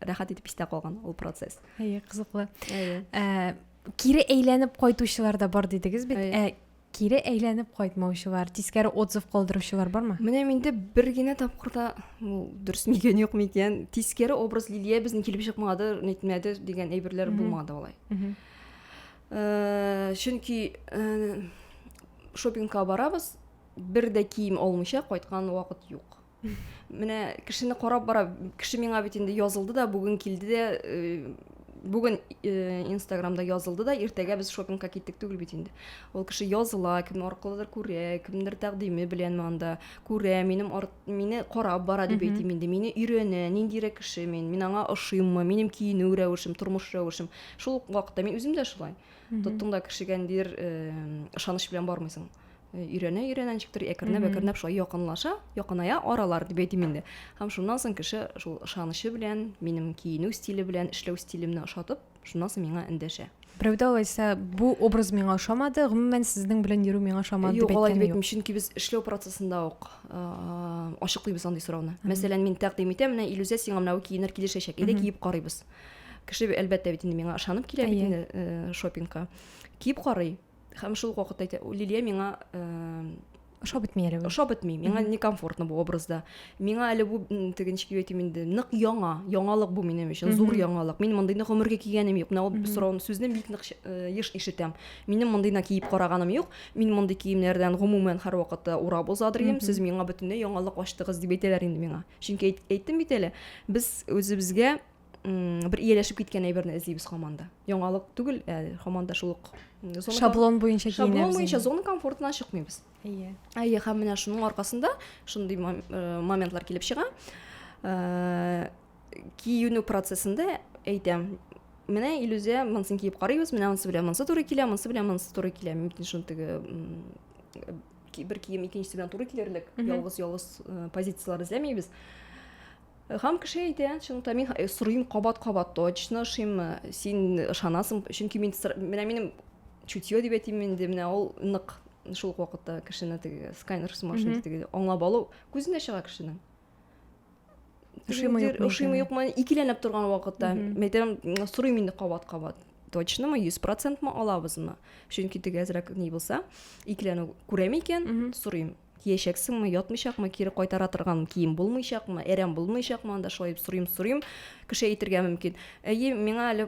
Speaker 1: рәхәт итеп истә калган ул процесс әйе кызыклы әйе ә, кире әйләнеп кайтучылар да бар дидегез бит ә, кире әйләнеп кайтмаучылар тискәре отзыв калдыручылар бармы менә миндә бер генә тапкырда ул дөрес микән юк микән тискәре образ лилия безнең килеп чыкмады нитмәде дигән әйберләр булмады алай э, чөнки э, шопингка барабыз бер дә кием алмыйча кайткан вакыт юк Менә кешене карап бара, кеше миңа бит инде язылды да, бүген килде дә, бүген инстаграмда язылды да, иртәгә без шопингка киттек түгел бит инде. Ул кеше языла, кем аркылыдыр күрә, кемдер тәкъдиме белән анда күрә, минем арт, мине карап бара дип әйтим инде. Мине өйрәнә, ниндирәк кеше мин, мин аңа ошыйммы, минем киенү рәвешем, тормыш рәвешем. Шул вакытта мин үзем дә шулай. Тоттың да кешегә ниндидер ышаныч белән бармыйсың. Э, өйрәнә өйрәнә ничектер әкренләп әкренләп шулай якынлаша якыная аралар дип әйтим инде һәм шуннан соң кеше шул ышанычы белән минем киенү стиле белән эшләү стилемне ошатып шуннан соң миңа эндәшә берәүдә алайса бу образ миңа ошамады гомумән сезнең белән йөрү миңа ошамады юк алай дип әйтмим чөнки без эшләү процессында ук ачыклыйбыз андый сорауны мәсәлән мин тәкъдим итәм менә илүзә сиңа менә киенер килешәчәк әйдә киеп карыйбыз кеше әлбәттә бит инде миңа ышанып килә бит инде э, шопингка киеп карый һәм шул ук вакытта әйтә лилия миңа ошап бетми әле ошап бетми миңа некомфортно бу образда миңа әле бу теге ничек дип әйтим инде нык яңа яңалык бу минем өчен зур яңалык мин мондыйны гомергә кигәнем юк менә ул сорауны сүзне бик нык еш ишетәм минем мондыйны киеп караганым юк мин мондый киемнәрдән гомумән һәрвакытта урап узадырым сез миңа бөтенләй яңалык ачтыгыз дип әйтәләр инде миңа чөнки әйттем бит әле без үзебезгә бер ияләшеп киткән әйберне эзлибез һаман да яңалык түгел ә һаман да шул ук шаблон буенча шаблон буенча зона комфортынан чыкмыйбыз әйе әйе һәм менә шуның аркасында шундый э, моментлар килеп чыга э, киенү процессында әйтәм менә илүзә монысын киеп карыйбыз менә монысы белән монысы туры килә монысы белән монысы туры килә мөмкин шуны теге бер кием икенчесе белән туры килерлек ялгыз ялгыз э, позициялар эзләмибез Хам кеше әйтә, чынлыкта мин сорыйм кабат-кабат, точно ошыймы, син ышанасың, чөнки мин менә минем чутье дип әйтим инде, менә ул нык шул ук вакытта кешене теге сканер сумашында теге аңлап алу күзенә чыга кешенең. Ошыймы юкмы? Ошыймы юкмы? Икеләнеп торган вакытта, мәйтәм, сорыйм инде кабат-кабат. Точно мы 100% мы алабызмы? Чөнки теге әзрәк ни булса, икеләнү күрәме икән, сорыйм. Киячәксеңме, ятмыйчакмы, кире кайтара торган кием булмыйчакмы, әрәм булмыйчакмы, анда шулай дип сорыйм, сорыйм. Кеше әйтергә мөмкин. Әйе, миңа әле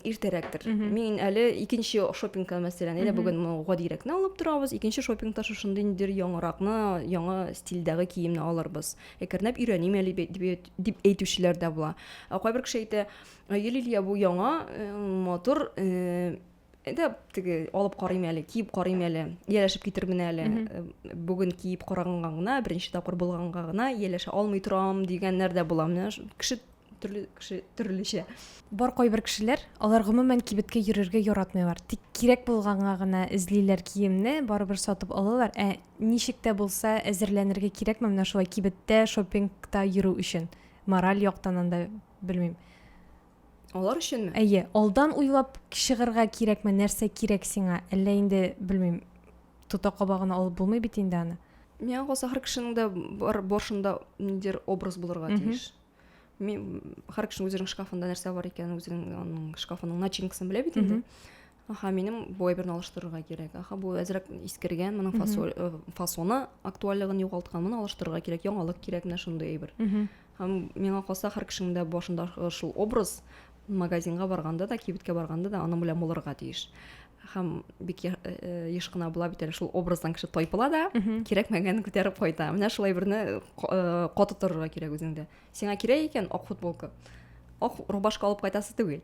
Speaker 1: иртәрәктер. Мин әле икенче шопингка мәсәлән, әйдә бүген мы гадирәкне алып торабыз, икенче шопингта шушындый ниндидер яңаракны, яңа стильдәге киемне алырбыз. Әкренләп өйрәним әле бит, дип, дип әйтүчеләр дә була. Ә кайбер кеше әйтә, әйе, Лилия, бу яңа, э, матур, э, Әйдә, теге алып карыйм әле, киеп карыйм әле, ияләшеп китермен әле. Э, бүген киеп караганга гына, беренче тапкыр булганга гына ияләшә алмый торам дигәннәр дә була. Менә кеше төрле кеше төрлечә. Бар кайбер кешеләр, алар гомумән кибеткә йөрергә яратмыйлар. Тик кирәк булганга гына эзлиләр киемне, барыбер сатып алалар. Ә ничек тә булса әзерләнергә кирәкме менә шулай кибеттә, шопингта йөрү өчен? Мораль яктан анда, белмим. Алар өченме? Әйе, алдан уйлап чыгырга кирәкме, нәрсә кирәк сиңа? Әллә инде, белмим, тота кабагына алып булмый бит инде аны. Миңа калса, һәр кешенең дә бар борышында ниндидер образ булырга тиеш. Мин һәр кешенең үзенең шкафында нәрсә бар икәнен, үзенең аның шкафының начинкасын белә бит инде. Аха, минем бу әйберне алыштырырга кирәк. Аха, бу әзрәк искергән, моның фасоль, э, фасоны актуальлыгын югалткан, моны алыштырырга кирәк, яңалык кирәк менә шундый әйбер. Һәм миңа калса, һәр кешенең дә башында э, шул образ магазинга барганда да, кибеткә барганда да аның белән булырга тиеш. Һәм бик я- э, э, еш кына була бит әле шул образдан кеше тайпыла да, кирәкмәгәнен күтәреп кайта. Менә шул әйберне ка- э, каты торырга кирәк үзеңдә. сиңа кирәк икән ак футболка ак рубашка алып кайтасы түгел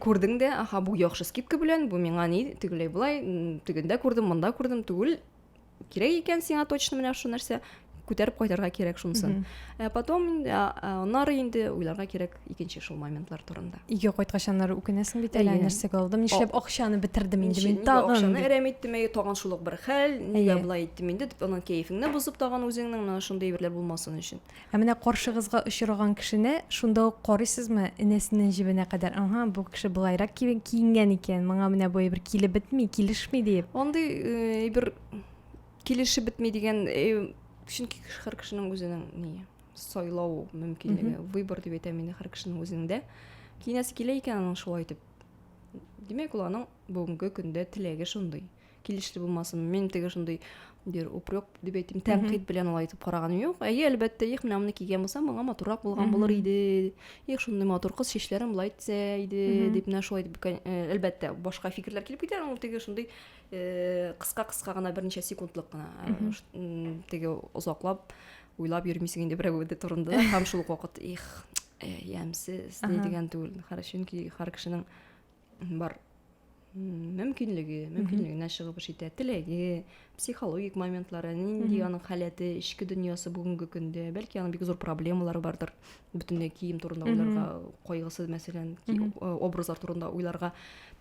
Speaker 1: күрдең дә аха бу яхшы скидка белән бу миңа ни тегеләй болай тегендә күрдем монда күрдем түгел кирәк икән сиңа точно менә шул нәрсә күтәреп кайтарга кирәк шунысын ә потом инде аннары инде уйларга кирәк икенче шул моментлар турында өйгә кайткач аннары үкенәсең бит әле нәрсәгә алдым нишләп акчаны бетердем инде мин тагын акчаны әрәм иттем әйе тагын шул ук бер хәл нигә болай иттем инде дип анан кәефеңне бозып тагын үзеңнең менә шундый әйберләр булмасын өчен Ә менә каршыгызга очраган кешене шунда ук карыйсызмы, энәсеннән җебенә кадәр, Аһа, бу кеше болайрак киенгән икән, моңа менә бу әйбер килеп бетми, килешми, диеп. Андый әйбер килешеп бетми дигән, чөнки һәр кешенең үзенең ние, сайлау мөмкинлеге, выбор дип әйтәм инде һәр кешенең үзенең дә. Киенәсе килә икән аның шулай итеп. Димәк, ул аның бүгенге көндә теләге шундый. килеште булмасын мин теге шундый бер упрек дип әйтим тәнкыйть белән алай итеп караганым юк әйе әлбәттә их менә моны кигән булсам моңа матуррак булган булыр иде их шундый матур кыз чәчләрен болай итсә иде дип менә шулай дип әлбәттә башка фикерләр килеп китә ул теге шундый кыска кыска гына берничә секундлык кына теге озаклап уйлап йөрмисең инде берәү турында һәм шул ук вакыт их ямьсез ни дигән түгел чөнки һәр кешенең бар мөмкинлеге мөмкинлегенә чыгып эш итә теләге психологик моментлары нинди аның халәте эчке дөньясы бүгенге көндә бәлки аның бик зур проблемалары бардыр бөтенләй кием турында уйларга кайгысы мәсәлән образлар турында уйларга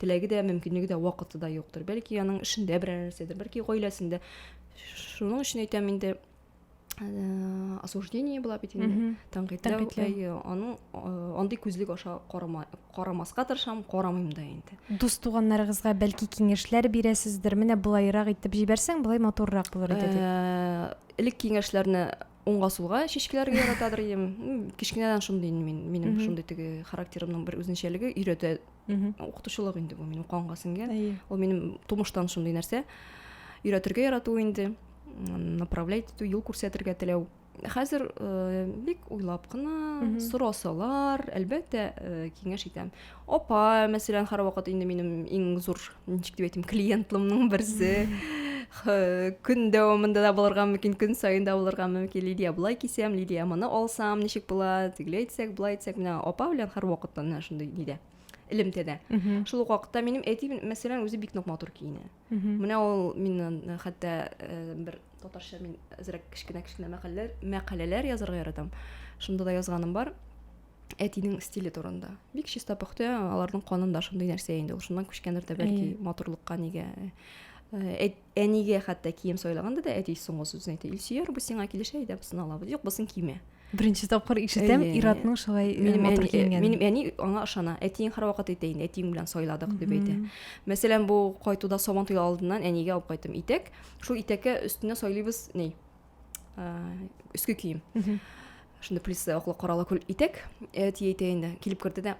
Speaker 1: теләге дә мөмкинлеге дә вакыты да юктыр бәлки аның эшендә берәр нәрсәдер бәлки гаиләсендә шуның өчен әйтәм инде Э, осуждение була бит инде тәнкыйтьләү әйе аның э, андый күзлек аша карамаска тырышам карамыйм да инде дус туганнарыгызга бәлки киңәшләр бирәсездер менә болайрак итеп җибәрсәң болай матуррак булыр иде дип э, элек киңәшләрне уңга сулга чишкәләргә яратадыр идем кечкенәдән шундый мин минем шундый теге характерымның бер үзенчәлеге өйрәтә укытучылык инде бу минем канга сеңгән ул минем тумыштан шундый нәрсә өйрәтергә ярату инде направлять итү юл күрсәтергә теләү хәзер э, бик уйлап кына сорасалар әлбәттә э, киңәш итәм апа мәсәлән һәрвакыт инде минем иң зур ничек дип әйтим клиентлымның берсе көн дәвамында да булырга мөмкин көн саен да булырга мөмкин лидия былай кисәм лидия моны алсам ничек була тегеләй итсәк былай итсәк менә апа белән һәрвакыт менә шундый нидә элемтәдә шул ук вакытта минем әти мәсәлән үзе бик нык матур киенә Менә ул миннән э, хәтта э, бер татарча мин әзрәк кечкенә кечкенә мәкаләләр, мәкаләләр язарга яратам. Шунда да язганым бар. Әтинең стиле турында. Бик чиста пөхтә, аларның канында шундый нәрсә инде. Ул шуннан күчкәндер дә бәлки матурлыкка нигә. Э, әнигә хәтта кием сайлаганда да әти соңгы сүзен әйтә. Илсөяр, бу сиңа килешә, әйдә, бусын алабыз. Юк, бусын киме. Беренче тапкыр ишетәм, Иратның шулай матур киенгәнен. Минем әни аңа ышана. Әтиең һәрвакыт әйтә инде, әтиең белән сайладык дип әйтә. Мәсәлән, бу кайтуда Сабан туе алдыннан әнигә алып кайттым итәк. Шул итәккә өстенә сайлыйбыз ни? Өске кием. Шунда плюс аклы каралы күл итәк. Әти әйтә инде, килеп керде дә,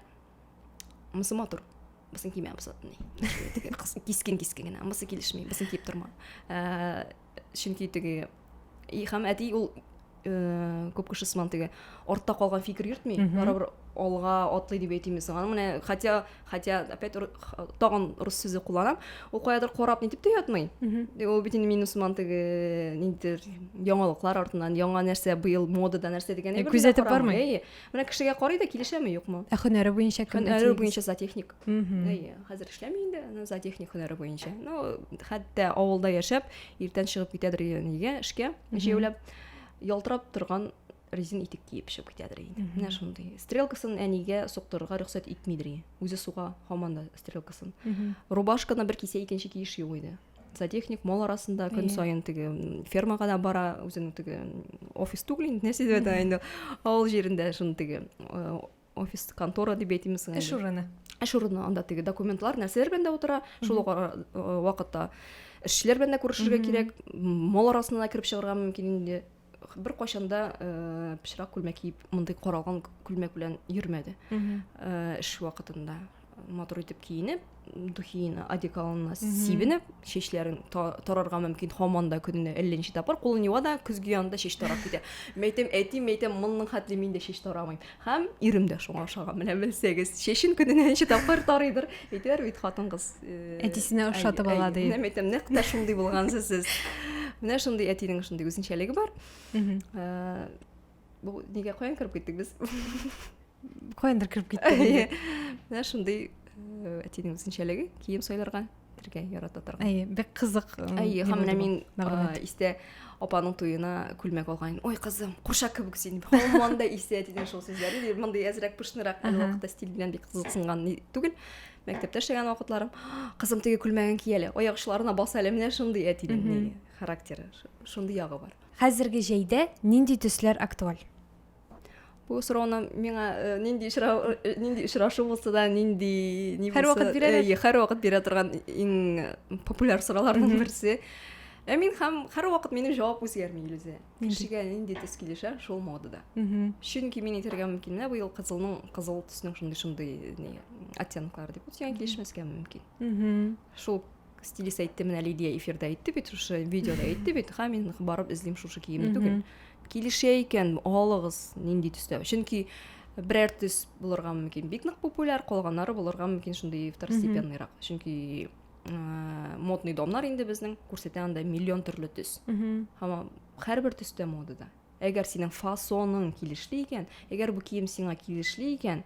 Speaker 1: мысы матур мысын кимә мысы кискен кискен генә мысы килешми мысын киеп торма ә, чөнки теге һәм әти ул ә, күп кеше сыман теге артта калган фикер йөртми барыбер алга атлый дип әйтимез аны менә хотя хотя опять тагын рус сүзе кулланам ул каядыр карап нитеп тә ятмый ул бит инде мин усман теге ниндидер яңалыклар артыннан яңа нәрсә быел модада нәрсә дигән күзәтеп бармый Менә кешегә карый да килешәме, юкмы? Ә хөнәре буенча кем? Хөнәре буенча зоотехник. Әйе, хәзер эшләми инде, но зоотехник хөнәре буенча. Ну, хәтта авылда яшәп, иртән чыгып китәдер нигә эшкә, җәяүләп, ялтырап торган резин итек киеп чыгып китәдер инде. Менә шундый. Стрелкасын әнигә соктырырга рөхсәт итмидер. Үзе суга һаман да стрелкасын. Рубашканы бер кисә икенче киеш юк иде. зоотехник мал арасында көн иә. сайын теге фермага да бара үзенең теге офис түгел инде нәрсе дип әйтә инде авыл җирендә шуны теге э, офис контора дип әйтимсең эш урыны эш урыны анда теге документлар нәрсәләр белән дә утыра шул э, вакытта эшчеләр белән дә күрешергә кирәк мал арасына да кереп чыгарга мөмкин инде беркайчан да э, пычрак күлмәк киеп мондый каралган күлмәк белән йөрмәде э, эш вакытында матур итеп киенеп духиына одеколонына сибенеп чәчләрен тарарга мөмкин һаман да көненә әллә ничә тапкыр кулын юа да көзге янында чәч тарап китә мәйтәм әти мәйтәм монның хәтле мин дә чәч тарамыйм Һәм ирем дә шуңа ошаган, менә белсәгез. Чәчен көненә ничә тапкыр тарыйдыр. Әйтәләр бит хатын-кыз. Э, Әтисенә ошатып ала ди. Менә әйтәм, нәкъ тә шундый булгансыз сез. Менә шундый әтинең шундый үзенчәлеге бар. Э, бу нигә каян кереп киттек без? Каяндыр кереп киттек. Менә шундый э, әтинең үзенчәлеге, кием сайларга. бергә ярата торган әйе бик кызык әйе һәм менә мин истә апаның туена күлмәк алган ой кызым курча кебек син һаман да исә дигән шул сүзләре мондый әзрәк пышнырак әле вакытта стиль белән бик кызыксынган түгел мәктәптә эшләгән вакытларым кызым теге күлмәген ки әле аяк очларына бас әле менә шундый әтинең характеры шундый ягы бар хәзерге җәйдә нинди төсләр актуаль Бу сорауны миңа э, нинди очрау э, нинди очрашу булса да, нинди ни Һәр вакыт бирәләр. Э, һәр вакыт бирә торган иң популяр сорауларның берсе. Ә мин һәм һәр вакыт минем җавап үзгәрми Илүзә. Кешегә нинди төс килешә, шул модада. Чөнки мин әйтергә мөмкин, менә быел кызылның кызыл төснең шундый шундый ни оттенклары дип, үзгә килешмәскә мөмкин. Шул стилист әйтте, менә Лидия эфирда әйтте бит, шушы видеода әйтте бит, ха, мин барып эзлим шушы киемне түгел. Килешә икән, алыгыз, нинди төстә. Чөнки берәр төс булырга мөмкин бик нык популяр, калганнары булырга мөмкин шундый второстепенныйрак. Чөнки модный домнар инде безнең күрсәтә анда миллион төрле төс. Һәм һәрбер төстә модада. Әгәр синең фасоның килешле икән, әгәр бу кием сиңа килешле икән,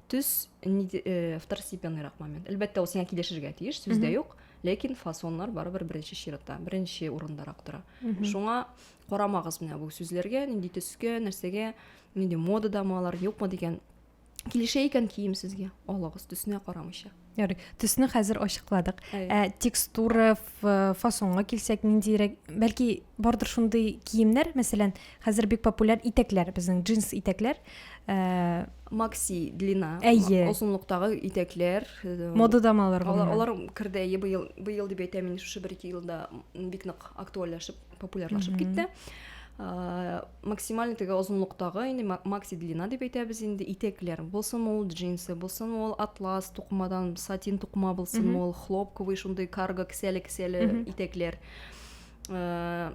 Speaker 1: төс э, второстепенныйрак момент. Әлбәттә, ул сиңа килешергә тиеш, сүз дә юк, ләкин фасоннар барыбер беренче чиратта, беренче урындарак тора. Шуңа карамагыз менә бу сүзләргә, нинди төскә, нәрсәгә, нинди модадамы алар, юкмы дигән килешә икән кием сезгә алыгыз төсенә карамыйча ярый төсне хәзер ачыкладык ә текстура фасонга килсәк ниндирәк бәлки бардыр шундый киемнәр мәсәлән хәзер бик популяр итәкләр безнең джинс итәкләр ә... макси длина әйе озынлыктагы итәкләр э, модадамы алар алар керде әйе быел быел дип әйтәм мин шушы бер ике елда бик нык актуальләшеп популярлашып китте ә, максималь теге озынлыктагы инде макси длина дип әйтәбез инде итәкләр булсын ул джинсы булсын ул атлас тукымадан сатин тукыма булсын ул хлопковый шундый карго кесәле кесәле итәкләр ә,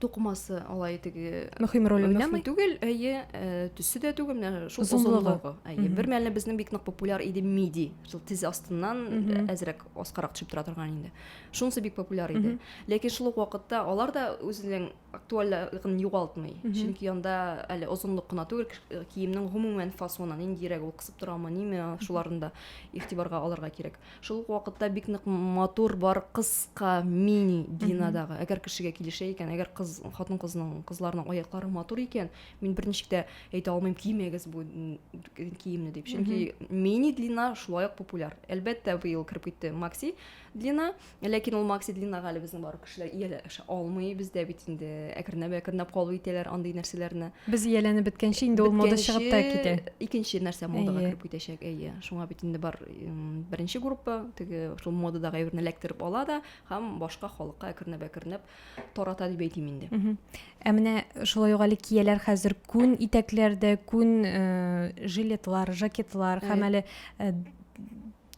Speaker 1: тукымасы алай теге мөһим роль уйнамый түгел әйе ә, төсе дә түгел менә шул озынлыгы әйе бер мәлне безнең бик нык популяр иде миди шул тез астыннан әзрәк аскарак төшеп тора торган инде шунысы бик популяр иде ләкин шул ук вакытта алар да үзенең актуальлыгын югалтмый чөнки анда әле озынлык кына түгел э, киемнең гомумән фасоны ниндирәк ул кысып торамы ниме шуларын да игътибарга алырга кирәк шул ук вакытта бик нык матур бар кыска мини длинадагы әгәр кешегә килешә икән әгәр кыз хатын кызның кызларның аяклары матур икән мин берничек тә әйтә алмыйм кимәгез бу киемне дип чөнки мини длина шулай ук популяр әлбәттә быел кереп китте макси длина ләкин ул макси длинага әле безнең бар кешеләр ияләшә алмый бездә бит инде әкренләп әкренләп кабул итәләр андый нәрсәләрне без ияләнеп беткәнче инде ул мода чыгып та китә икенче нәрсә модага кереп китәчәк әйе шуңа бит инде бар беренче группа теге шул модадагы әйберне эләктереп ала да һәм башка халыкка әкренләп әкренләп тарата дип әйтим инде ә менә шулай ук әле кияләр хәзер күн итәкләрдә күн жилетлар жакетлар һәм әле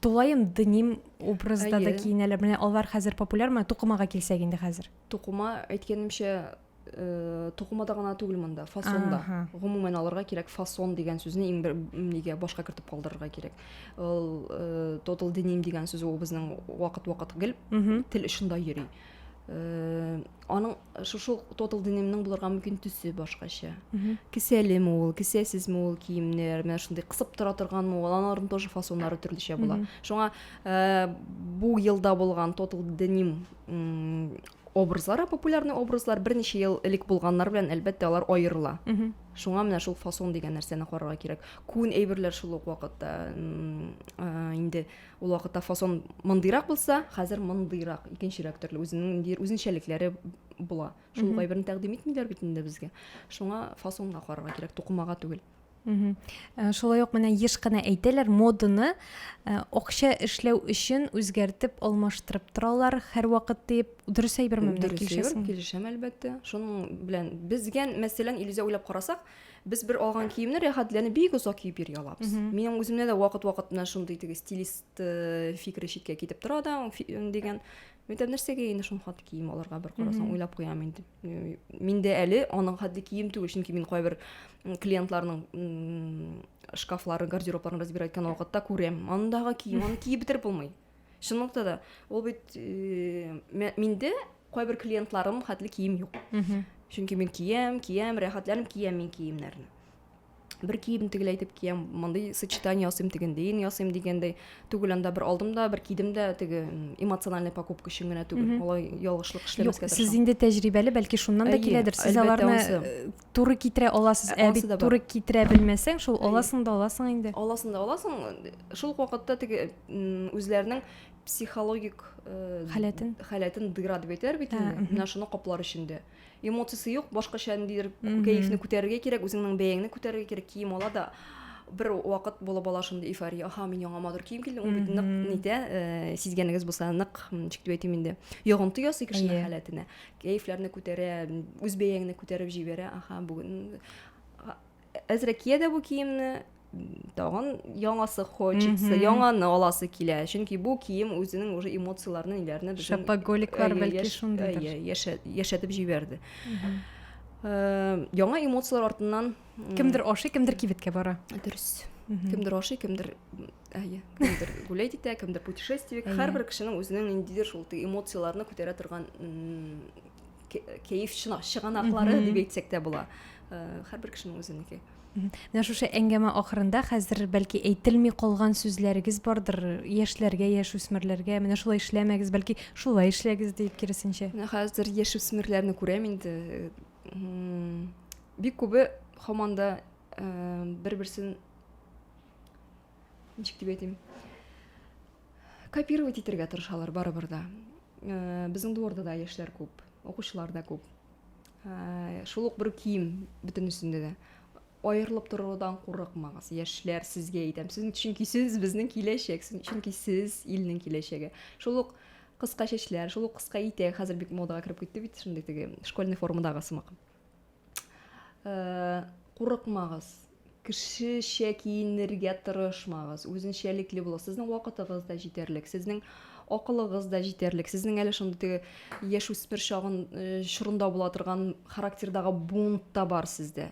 Speaker 1: тулаем дним образда да киенәләр менә алар хәзер популяр менә тукымага килсәк инде хәзер тукыма әйткәнемчә э, тукымада гына түгел монда фасонда гомумән алырга кирәк фасон дигән сүзне иң бер нигә башка кертеп калдырырга кирәк ул э, тотал деним дигән сүз ул безнең вакыт вакыт гел тел очында йөри Э, аның э, шушы тотал денемнең булырга мөмкин төсе башкача кесәлеме ул кесәсезме ул киемнәр менә шундый кысып тора торганмы ул аларның тоже фасоннары төрлечә була шуңа э, бу елда булган тотал деним образлары популярный образлар берничә ел элек булганнар белән әлбәттә алар аерыла шуңа менә шул фасон дигән нәрсәне карарга кирәк күн әйберләр шул ук вакытта инде Ул вакытта фасон мондыйрак булса, хәзер мондыйрак, икенчерәк төрле үзенең ниндидер үзенчәлекләре була. Шул кайберен тәкъдим итмиләр бит инде безгә. Шуңа фасонга карарга кирәк, тукымага түгел. Э, шулай ук менә еш кына әйтәләр моданы э, акча эшләү өчен үзгәртеп алмаштырып торалар һәрвакыт дип дөрес әйберме менә килешәсең килешәм әлбәттә шуның белән безгә мәсәлән илүзә уйлап карасак Без бер алган киемне рәхәтләнеп бик озак киеп йөри алабыз. Минем үземдә дә вакыт-вакыт менә шундый теге стилист э, фикере читкә китеп тора да дигән. Мәктәп нәрсәгә инде шуның хәтле кием алырга бер карасаң уйлап куям инде. Э, мин дә әле аның хәтле кием түгел, чөнки мин кайбер клиентларның шкафларын, гардеробларын разбирать иткән вакытта күрәм. Андагы кием, аны киеп бетереп булмый. чынлыкта да ул бит э, миндә кайбер клиентларым хәтле кием юк чөнки мин киям киям рәхәтләнеп киям мин киемнәрне бер кием тегеләй итеп киям мондый сочетание ясыйм тегендәен ясыйм дигәндәй түгел анда бер алдым да бер кидем дә теге эмоциональный покупка өчен генә түгел алай ялгышлык эшләмәскә сез инде тәҗрибәле бәлки шуннан да киләдер сез аларны э, туры китерә аласыз ә, ә бит туры китерә белмәсәң шул аласың да аласың инде аласың да аласың шул ук вакытта теге үзләренең психологик э, халәтен халәтен дыйра дип әйтәләр бит инде менә шуны каплар эчендә эмоциясе юк башкача ниндидер кәефне күтәрергә кирәк үзеңнең бәяңне күтәрергә кирәк кием ала да бер вакыт булып ала шундый эйфория аха мин яңа матур кием килдем ул бит нык нитә э, сизгәнегез булса нык ничек дип әйтим инде йогынты ясый кешенең халәтенә Кәефләрне күтәрә, үз бәяңне күтәреп җибәрә. Аха, бүген әзрәк кия дә бу киемне, тагын яңасы хочется, яңаны аласы килә. Чөнки бу кием үзенең уже эмоцияләрне ниләрне безнең шапоголиклар бәлки шундыйдыр. Яшәтеп җибәрде. Э, яңа эмоцияләр артыннан кемдер ашый, кемдер кибеткә бара. Дөрес. Кемдер ашый, кемдер ә иә кімдер гулять итә кімдер путешествие һәрбір кешенең үзенең ниндидер шул эмоцияларны күтәрә торган кәеф чыганаклары дип әйтсәк тә була һәрбер кешенең үзенеке менә шушы әңгәмә ахырында хәзер бәлки әйтелми калган сүзләрегез бардыр яшьләргә яшүсмерләргә менә шулай эшләмәгез бәлки шулай эшләгез дип киресенчә менә хәзер яшүсмерләрне күрәм инде бик күбе һаман да бер берсен ничек дип әйтим копировать итәргә тырышалар барыбер да э, безнең дворда да яшьләр күп укучылар да күп э, шул ук бер кием бөтенесендә дә аерылып торудан курыкмагыз яшьләр сезгә әйтәм сез чөнки сез безнең киләчәк чөнки сез илнең киләчәге шул ук кыска чәчләр шул ук кыска итәк хәзер бик модага кереп китте бит шундый теге школьный формадагы сымак Э, курыкмагыз кешечә киенергә тырышмагыз үзенчәлекле булыгыз сезнең вакытыгыз да җитәрлек сезнең акылыгыз да җитәрлек сезнең әле шундый теге яшүсмер чагын э, чорында була торган характердагы бунт та бар сездә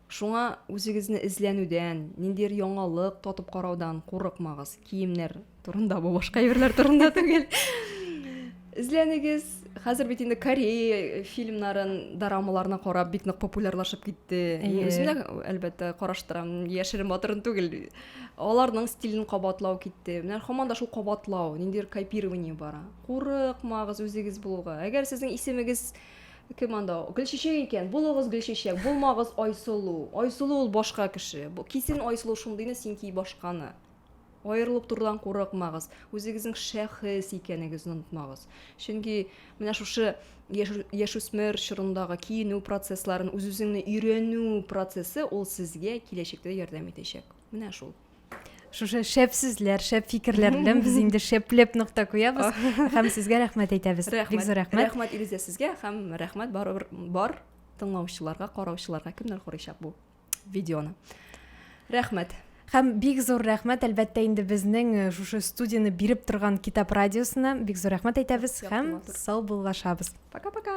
Speaker 1: Шуңа үзегезне эзләнүдән, ниндидер яңалык татып караудан курыкмагыз. Киемнәр турында бу, башка әйберләр турында түгел. Эзләнегез. Хәзер бит инде Корея фильмнарын, дорамаларны карап бик нык популярлашып китте. Мин үзем дә әлбәттә караштырам, яшерен батырын түгел. Аларның стилен кабатлау китте. Менә һаман да шул кабатлау, ниндидер копирование бара. Курыкмагыз үзегез булуга. Әгәр сезнең исемегез Кем анда ул? Гөлчәчәк икән. Булыгыз Гөлчәчәк, булмагыз Айсылу. Айсылу ул башка кеше. Кисен Айсылу шундыйны, син ки башканы. Аерылып торудан курыкмагыз. Үзегезнең шәхес икәнегезне онытмагыз. Чөнки менә шушы яшүсмер чорындагы киенү процессларын, үз-үзеңне өйрәнү процессы ул сезгә киләчәктә ярдәм итәчәк. Менә шул. шушы шәп сүзләр шәп фикерләр белән без инде шәпләп нокта куябыз һәм сезгә рәхмәт әйтәбез бик зур рәхмәт рәхмәт илүзә сезгә һәм рәхмәт барыбер бар тыңлаучыларга караучыларга кемнәр карыйчак бу видеоны рәхмәт һәм бик зур рәхмәт әлбәттә инде безнең э, шушы студияне биреп торган китап радиосына бик зур рәхмәт әйтәбез һәм сау буллашабыз пока пока